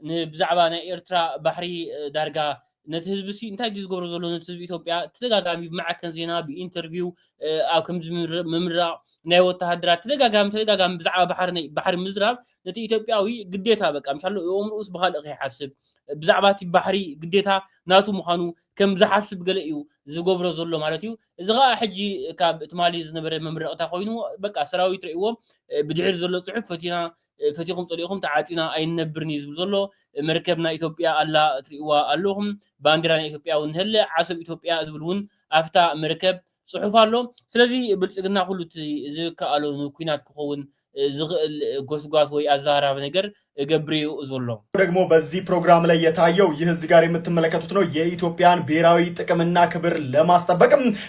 ንብዛዕባ ናይ ኤርትራ ባሕሪ ዳርጋ ነቲ ህዝቢ'ሲ እንታይ ድዩ ዝገብሮ ዘሎ ነቲ ህዝቢ ኢትዮጵያ ተደጋጋሚ ብማዕከን ዜና ብኢንተርቪው ኣብ ከምዚ ምምራቕ ናይ ወተሃደራት ተደጋጋሚ ተደጋጋሚ ብዛዕባ ባሕሪ ባሕሪ ምዝራብ ነቲ ኢትዮጵያዊ ግዴታ በቃ ምሻሎ እኦምርኡስ ብኻልእ ከይሓስብ ብዛዕባ እቲ ባሕሪ ግዴታ ናቱ ምዃኑ ከም ዝሓስብ ገለ እዩ ዝገብሮ ዘሎ ማለት እዩ እዚ ከዓ ሕጂ ካብ ትማሊ ዝነበረ መምረቕታ ኮይኑ በቃ ሰራዊት ርእይዎ ብድሕሪ ዘሎ ፅሑፍ ፈቲና ፈቲኹም ጸሊእኹም ተዓጺና ኣይንነብርን እዩ ዝብል ዘሎ መርከብ ናይ ኢትዮጵያ ኣላ ትሪእዋ ኣለኹም ባንዴራ ናይ ኢትዮጵያ እውን ንሀለ ዓሰብ ኢትዮጵያ ዝብል እውን ኣፍታ መርከብ ጽሑፍ ኣሎ ስለዚ ብልጽግና ኩሉ እቲ ዝከኣሎ ንኩናት ክኸውን ዝኽእል ጎስጓስ ወይ ኣዘራራቢ ነገር እገብር እዩ ዘሎ። ደግሞ በዚህ ፕሮግራም ላይ የታየው ይህ እዚህ ጋር የምትመለከቱት ነው የኢትዮጵያን ብሔራዊ ጥቅምና ክብር ለማስጠበቅም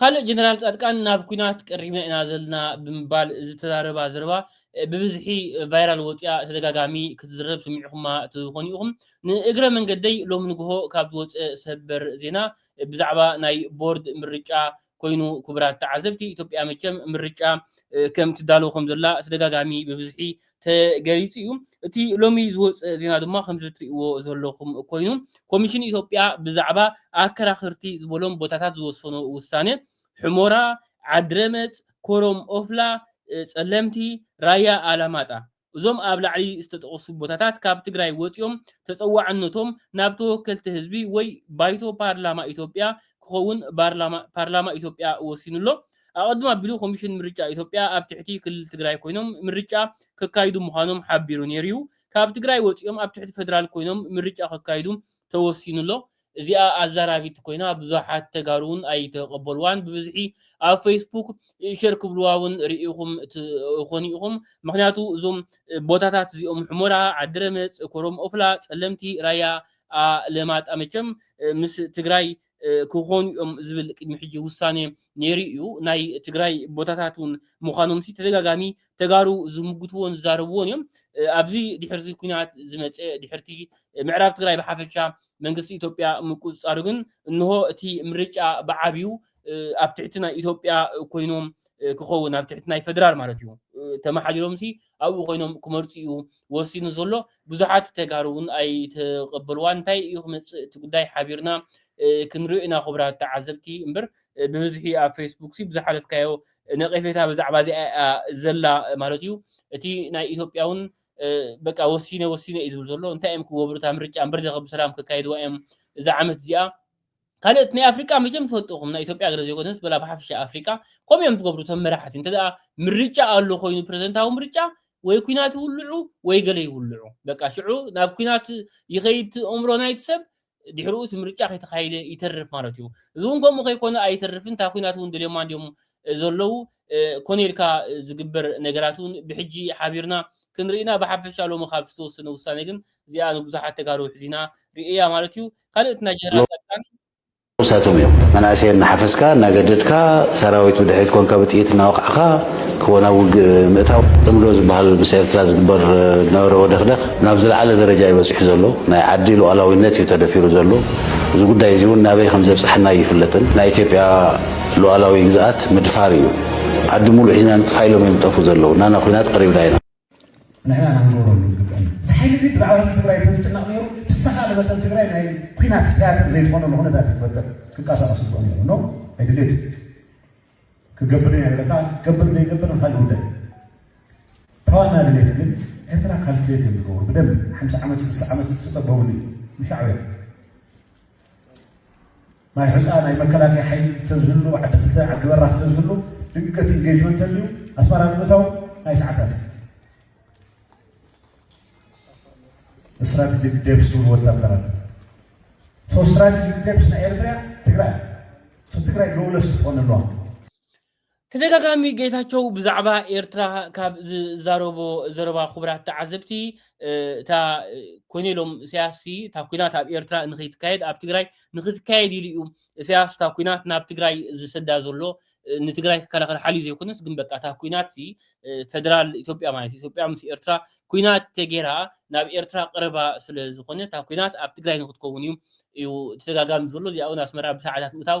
ካልእ ጀነራል ፃድቃን ናብ ኩናት ቀሪብና ኢና ዘለና ብምባል ዝተዛረባ ዘረባ ብብዝሒ ቫይራል ወፂኣ ተደጋጋሚ ክትዝረብ ሰሚዕኹማ ትኾኑ ኢኹም። ንእግረ መንገደይ ሎሚ ንግሆ ካብ ዝወፀ ሰበር ዜና ብዛዕባ ናይ ቦርድ ምርጫ ኮይኑ ክቡራት ተዓዘብቲ ኢትዮጵያ መቸም ምርጫ ከም ትዳሎ ከም ዘላ ተደጋጋሚ ብብዝሒ ተገሊፁ እዩ። እቲ ሎሚ ዝወፅእ ዜና ድማ ከምዚ ትሪእዎ ዘለኹም ኮይኑ ኮሚሽን ኢትዮጵያ ብዛዕባ ኣከራኽርቲ ዝበሎም ቦታታት ዝወሰኖ ውሳነ ሑሞራ፣ ዓድረመፅ፣ ኮረም ኦፍላ፣ ፀለምቲ፣ ራያ ኣላማጣ እዞም ኣብ ላዕሊ ዝተጠቐሱ ቦታታት ካብ ትግራይ ወፂኦም ተፀዋዕነቶም ናብ ተወከልቲ ህዝቢ ወይ ባይቶ ፓርላማ ኢትዮጵያ ክኸውን ፓርላማ ኢትዮጵያ ወሲኑ ኣሎ። ኣቐድም ኣቢሉ ኮሚሽን ምርጫ ኢትዮጵያ ኣብ ትሕቲ ክልል ትግራይ ኮይኖም ምርጫ ከካይዱ ምዃኖም ሓቢሩ ነይሩ'ዩ። ካብ ትግራይ ወፂኦም ኣብ ትሕቲ ፌደራል ኮይኖም ምርጫ ከካይዱ ተወሲኑ'ሎ። እዚኣ ኣዛራቢት ኮይና ብዙሓት ተጋሩ ውን ኣይተቀበልዋን ብብዝሒ ኣብ ፈይስቡክ ሸር ክብልዋ ውን ሪኢኹም ትኾኑ ኢኹም ምኽንያቱ እዞም ቦታታት እዚኦም ሑመራ፣ ዓዲረመፅ፣ ኮረም ኦፍላ፣ ፀለምቲ፣ ራያ ኣለማጣ መቸም ምስ ትግራይ ክኾኑ እዮም ዝብል ቅድሚ ሕጂ ውሳኔ ነይሩ እዩ። ናይ ትግራይ ቦታታት እውን ምዃኖምሲ ተደጋጋሚ ተጋሩ ዝምጉትዎን ዝዛረብዎን እዮም። ኣብዚ ድሕርዚ ኩናት ዝመፀ ድሕርቲ ምዕራብ ትግራይ ብሓፈሻ መንግስቲ ኢትዮጵያ ምቁፅፃሩ ግን እንሆ እቲ ምርጫ ብዓብዩ ኣብ ትሕቲ ናይ ኢትዮጵያ ኮይኖም ክኸውን ኣብ ትሕቲ ናይ ፈደራል ማለት እዩ ተመሓዲሮምሲ ኣብኡ ኮይኖም ክመርጹ እዩ ወሲኑ ዘሎ ብዙሓት ተጋሩ ውን ኣይተቀበልዋን እንታይ እዩ ክመጽእ እቲ ጉዳይ ሓቢርና ክንሪኦ ኢና ኩቡራት ተዓዘብቲ እምበር ብብዝሒ ኣብ ፌስቡክ ሲ ብዝሓለፍካዮ ነቄፌታ ብዛዕባ እዚኣ እያ ዘላ ማለት እዩ እቲ ናይ ኢትዮጵያ ውን በቃ ወሲነ ወሲነ እዩ ዝብል ዘሎ እንታይ እዮም ክገብሩ እታ ምርጫ እምበር ዘኸ ብሰላም ከካይድዋ እዮም እዛ ዓመት እዚኣ ካልኦት ናይ ኣፍሪቃ መቸም ትፈልጥኹም ናይ ኢትዮጵያ ገለ ዘይኮነስ በላ ብሓፈሻ ኣፍሪቃ ከምኡ እዮም ዝገብሩ እቶም መራሕቲ እንተ ምርጫ ኣሎ ኮይኑ ፕረዚደንታዊ ምርጫ ወይ ኩናት ይውልዑ ወይ ገለ ይውልዑ በቃ ሽዑ ናብ ኩናት ይኸይድ እምሮ ናይቲ ሰብ ድሕሪኡ እቲ ምርጫ ከይተኻይደ ይተርፍ ማለት እዩ እዚ እውን ከምኡ ከይኮነ ኣይተርፍን እታ ኩናት እውን ደልዮማ እንድዮም ዘለዉ ኮነ ኢልካ ዝግበር ነገራት እውን ብሕጂ ሓቢርና ክንርኢና ብሓፈሻ ሎሚ ካብ ዝተወሰነ ውሳኔ ግን እዚኣ ንብዙሓት ተጋሩ ሕዚና ርእያ ማለት እዩ ካልእ እቲ ናይ ጀነራል ፃድቃን ንሳቶም እዮም መናእሰይ እናሓፈስካ እናገደድካ ሰራዊት ብድሕሪት ኮንካ ብጥይት እናወቃዕካ ክወ ናብ ውግእ ምእታው ፅምዶ ዝበሃል ምስ ኤርትራ ዝግበር ዝነበረ ወደኽደኽ ናብ ዝለዓለ ደረጃ እዩ በፂሑ ዘሎ ናይ ዓዲ ሉኣላዊነት እዩ ተደፊሩ ዘሎ እዚ ጉዳይ እዚ እውን ናበይ ከም ዘብፀሐና ኣይፍለጥን ናይ ኢትዮጵያ ሉኣላዊ ግዝኣት ምድፋር እዩ ዓዲ ሙሉእ ሒዝና ንጥፋእ ኢሎም እዮም ዝጠፍኡ ዘለዉ ናና ኩናት ቀሪብና ኢና ንሕና ኢና ክንገብረሉ ዝግበእና። እዚ ሓይሊ እዚ ብዛዕባ ህዝቢ ትግራይ እንተዝጭነቕ ነይሩ ብዝተኻእለ መጠን ትግራይ ናይ ኩናት ትያትር ዘይትኾነሉ ኩነታት እዩ ክፈጥር ክንቀሳቐስ ዝግበኦ ነይሩ ኖ ኣይድልየት እዩ ክገብር ኢና ኢለካ ገብር ዘይገብር ንካልእ ጉዳይ ተዋና ድሌት ግን ኤርትራ ካልኩሌት እዮም ዝገብሩ ብደንብ ሓምሳ ዓመት ስልሳ ዓመት ዝጠበብሉ እዩ ንሻዕብያ ማይ ሑጻ ናይ መከላከያ ሓይሊ እንተዝህሉ ዓዲ ክልተ ዓዲ በራኽ እንተዝህሉ ድንገት ኢንጌጅመንት ተልዩ ኣስመራ ንምእታው ናይ ሰዓታት እዩ ስትራቴጂክ ዴፕስ ትብሉ ወታደራት ሶ ስትራቴጂክ ዴፕስ ናይ ኤርትራ ትግራይ ሶ ትግራይ ሎውለስ ትኾን ኣለዋ ተደጋጋሚ ጌታቸው ብዛዕባ ኤርትራ ካብ ዝዛረቦ ዘረባ ክቡራት ተዓዘብቲ እታ ኮይኑ ኢሎም እሳያስ ሲ እታ ኩናት ኣብ ኤርትራ ንክይትካየድ ኣብ ትግራይ ንክትካየድ ኢሉ እዩ እሳያስ እታ ኩናት ናብ ትግራይ ዝሰዳ ዘሎ ንትግራይ ክከላኸል ሓልዩ ዘይኮነስ ግን በቃ እታ ኩናት ሲ ፈደራል ኢትዮጵያ ማለት እዩ ኢትዮጵያ ምስ ኤርትራ ኩናት ተጌራ ናብ ኤርትራ ቀረባ ስለ ዝኾነ እታ ኩናት ኣብ ትግራይ ንክትከውን እዩ እዩ ተደጋጋሚ ዘሎ እዚኣ እውን ኣስመራ ብሰዓታት ምእታው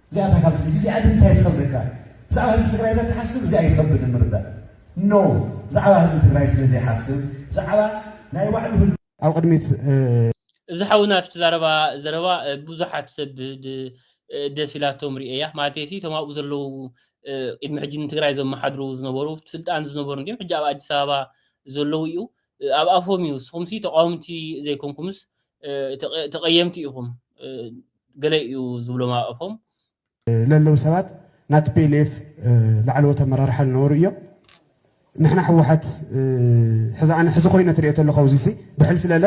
እዚኣ እታ ካብ ሕጂ እዚኣ ግን እንታይ ትኸብደካ ብዛዕባ ህዝቢ ትግራይ ተትሓስብ እዚኣ ይኸብድ ምርዳእ ኖ ብዛዕባ ህዝቢ ትግራይ ስለ ዘይሓስብ ብዛዕባ ናይ ባዕሉ ኣብ ቅድሚት እዚ ሓውና እቲ ዛረባ ዘረባ ብዙሓት ሰብ ደስ ኢላቶም ርእያ ማለት ሲ እቶም ኣብኡ ዘለዉ ቅድሚ ሕጂ ንትግራይ ዘመሓድሩ ዝነበሩ ስልጣን ዝነበሩ እንዲም ሕጂ ኣብ ኣዲስ ኣበባ ዘለዉ እዩ ኣብ ኣፎም እዩ ንስኹም ሲ ተቃወምቲ ዘይኮንኩምስ ተቀየምቲ ኢኹም ገለ እዩ ዝብሎም ኣብ ኣፎም። ለለዉ ሰባት ናይ tplf ላዕለዎት ኣመራርሓ ልነበሩ እዮም። ንሕና ህወሓት ሕዚ ኣነ ሕዚ ኮይነ ትሪኦ ተለኹ ኣውዚሲ ብሕልፊ ለለ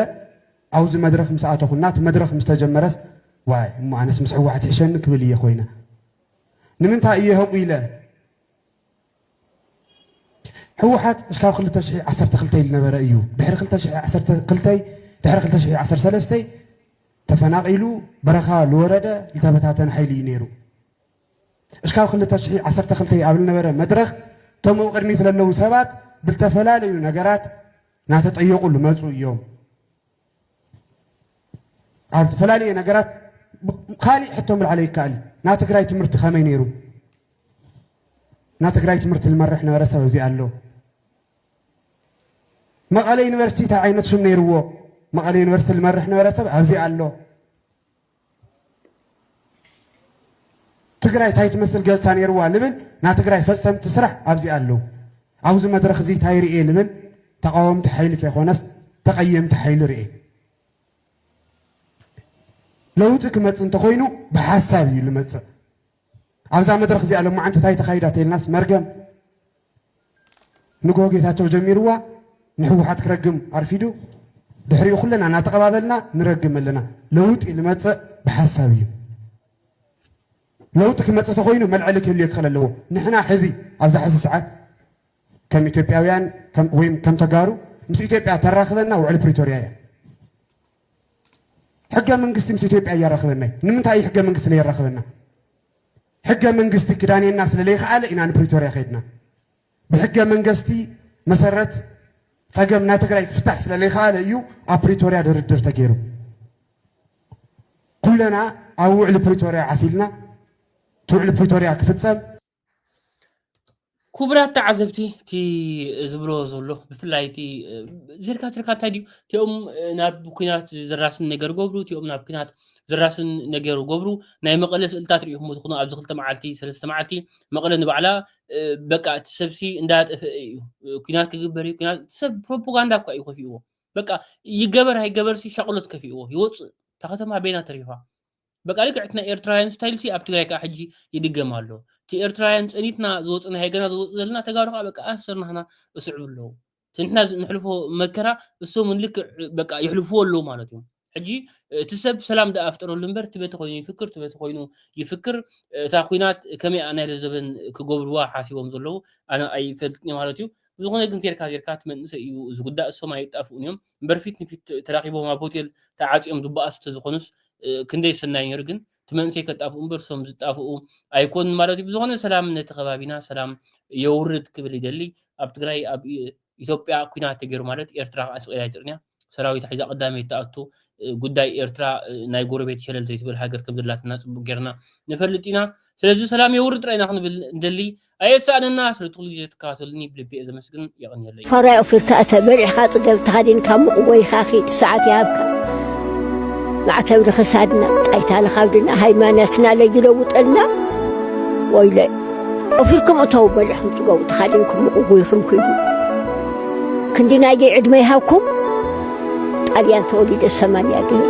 ኣውዚ መድረኽ ምስ ኣተኹና እቲ መድረኽ ምስ ተጀመረስ ዋይ እሞ ኣነስ ምስ ህወሓት ይሕሸኒ ክብል እየ ኮይነ ንምንታይ እየ ህቁ ኢለ ህወሓት እስካብ ክልተ ሽሕ ዓሰርተ ክልተ ዝነበረ እዩ። ድሕሪ ክልተ ሽሕ ዓሰርተ ክልተ ድሕሪ ክልተ ሽሕ ዓሰርተ ሰለስተ ተፈናቒሉ በረኻ ዝወረደ ዝተበታተነ ሓይሊ እዩ ነይሩ። እስካብ ክልተ ሽሕ ዓሰርተ ክልተ ኣብ ዝነበረ መድረኽ እቶም ኣብ ቅድሚት ዘለዉ ሰባት ብዝተፈላለዩ ነገራት እናተጠየቑ ዝመፁ እዮም። ኣብ ተፈላለየ ነገራት ካሊእ ሕቶ ምልዓለ ይከኣል እዩ ናይ ትግራይ ትምህርቲ ከመይ ነይሩ ናይ ትግራይ ትምህርቲ ዝመርሕ ነበረ ሰብ እዚ ኣሎ መቐለ ዩኒቨርሲቲ እንታይ ዓይነት ሽም ነይርዎ መቐለ ዩኒቨርሲቲ ዝመርሕ ነበረ ሰብ ኣብዚ ኣሎ ትግራይ ታይ ትመስል ገፅታ ነይርዋ ልብል ናይ ትግራይ ፈፀምቲ ስራሕ ኣብዚኣ ኣለው። ኣብዚ መድረኽ እዚ ታይ ርእየ ልብል ተቓወምቲ ሓይሊ ከይኾነስ ተቐየምቲ ሓይሊ ርእየ። ለውጢ ክመፅእ እንተኾይኑ ብሓሳብ እዩ ልመፅእ። ኣብዛ መድረኽ እዚኣ ሎማዓንቲ እንታይ ተኻይዳ ተይልናስ መርገም ንግሆ ጌታቸው ጀሚርዋ ንሕወሓት ክረግም ኣርፊዱ ድሕሪኡ ኩለና እናተቐባበልና ንረግም ኣለና። ለውጢ ልመፅእ ብሓሳብ እዩ። ለውጢ ክመፅእ ተኮይኑ መልዐሊ ክህልዮ ክኽእል ኣለዎ። ንሕና ሕዚ ኣብዛ ሕዚ ሰዓት ከም ኢትዮጵያውያን ወይም ከም ተጋሩ ምስ ኢትዮጵያ ተራኽበና ውዕሊ ፕሪቶሪያ እያ። ሕገ መንግስቲ ምስ ኢትዮጵያ እያራኽበና እዩ። ንምንታይ እዩ ሕገ መንግስቲ ለየራኽበና? ሕገ መንግስቲ ክዳንየና ስለለይከኣለ ኢና ንፕሪቶርያ ከይድና። ብሕገ መንገስቲ መሰረት ጸገም ናይ ትግራይ ክፍታሕ ስለለይከኣለ እዩ ኣብ ፕሪቶርያ ድርድር ተገይሩ። ኩለና ኣብ ውዕሊ ፕሪቶርያ ዓሲልና እቲ ውዕሊ ፕሪቶርያ ክፍጸም ክቡራት ተዓዘብቲ እቲ ዝብሎ ዘሎ ብፍላይ እቲ ዝርካ ዝርካ እንታይ ድዩ እቲኦም ናብ ኩናት ዝራስን ነገር ገብሩ እቲኦም ናብ ኩናት ዝራስን ነገር ገብሩ ናይ መቐለ ስእልታት ሪኢኹም ትኹኑ ኣብዚ ክልተ መዓልቲ ሰለስተ መዓልቲ መቐለ ንባዕላ በቃ እቲ ሰብሲ እንዳጠፍአ እዩ ኩናት ክግበር እዩ ኩናት ሰብ ፕሮፓጋንዳ እኳ እዩ ከፊእዎ በቃ ይገበር ኣይገበርሲ ሻቕሎት ከፊእዎ ይወፅእ እታ ከተማ ቤና ተሪፋ በቃ ልክዕ እቲ ናይ ኤርትራውያን ስታይል ሲ ኣብ ትግራይ ከዓ ሕጂ ይድገም ኣሎ እቲ ኤርትራውያን ፀኒትና ዝወፅእና ሃገና ዝወፅ ዘለና ተጋሩ ከዓ በቃ ኣሰር ናህና እስዕብ ኣለዉ እቲ ንሕና ንሕልፎ መከራ እሶም እውን ልክዕ በቃ ይሕልፍዎ ኣለዉ ማለት እዮም ሕጂ እቲ ሰብ ሰላም ደኣ ኣፍጠረሉ እምበር እቲ በቲ ኮይኑ ይፍክር እቲ በቲ ኮይኑ ይፍክር እታ ኩናት ከመይ እያ ናይ ዘበን ክገብርዋ ሓሲቦም ዘለዉ ኣነ ኣይፈልጥን እየ ማለት እዩ ብዝኾነ ግን ዜርካ ዜርካ እቲ መንእሰይ እዩ ዝጉዳእ እሶም ኣይጣፍኡን እዮም እምበር ፊት ንፊት ተራኺቦም ኣብ ሆቴል ተዓጽዮም ዝባኣሱ ተዝኾኑስ ክንደይ ሰናይ ኔሩ ግን እቲ መንእሰይ ከጣፍኡ እምበር እሶም ዝጣፍኡ ኣይኮኑን ማለት እዩ ብዝኾነ ሰላም ነቲ ከባቢና ሰላም የውርድ ክብል ይደሊ ኣብ ትግራይ ኣብ ኢትዮጵያ ኩናት ተገይሩ ማለት ኤርትራ ከዓ ስቂላ ይፅርንያ ሰራዊት ሒዛ ቀዳመይ ተኣቱ ጉዳይ ኤርትራ ናይ ጎረቤት ሸለል ዘይትብል ሃገር ከም ዘላትና ፅቡቅ ጌርና ንፈልጥ ኢና ስለዚ ሰላም የውርድ ጥራይና ክንብል እንደሊ ኣየሳእነና ስለ ጥቕሉ ግዜ ትከታተሉኒ ብልቢ እየ ዘመስግን የቐንየለይ። ፈራይ ኦፊርካ እተ በሊዕካ ጽገብ ተኸዲንካ ሙቕ ጎይኻ ኺድ ሰዓት ይሃብካ ማዕተብ ንኽሳድና ጣይታ ንኻብድና ሃይማኖትና ለይለውጠልና ወይለ ኦፊርኩም እተው በሊዕኩም ጽገቡ ተኻዲንኩም ሙቕ ጎይኹም ኪዱ ክንዲ ናይደይ ዕድመ ይሃብኩም ጣልያን ተወሊደ ሰማንያ ገይረ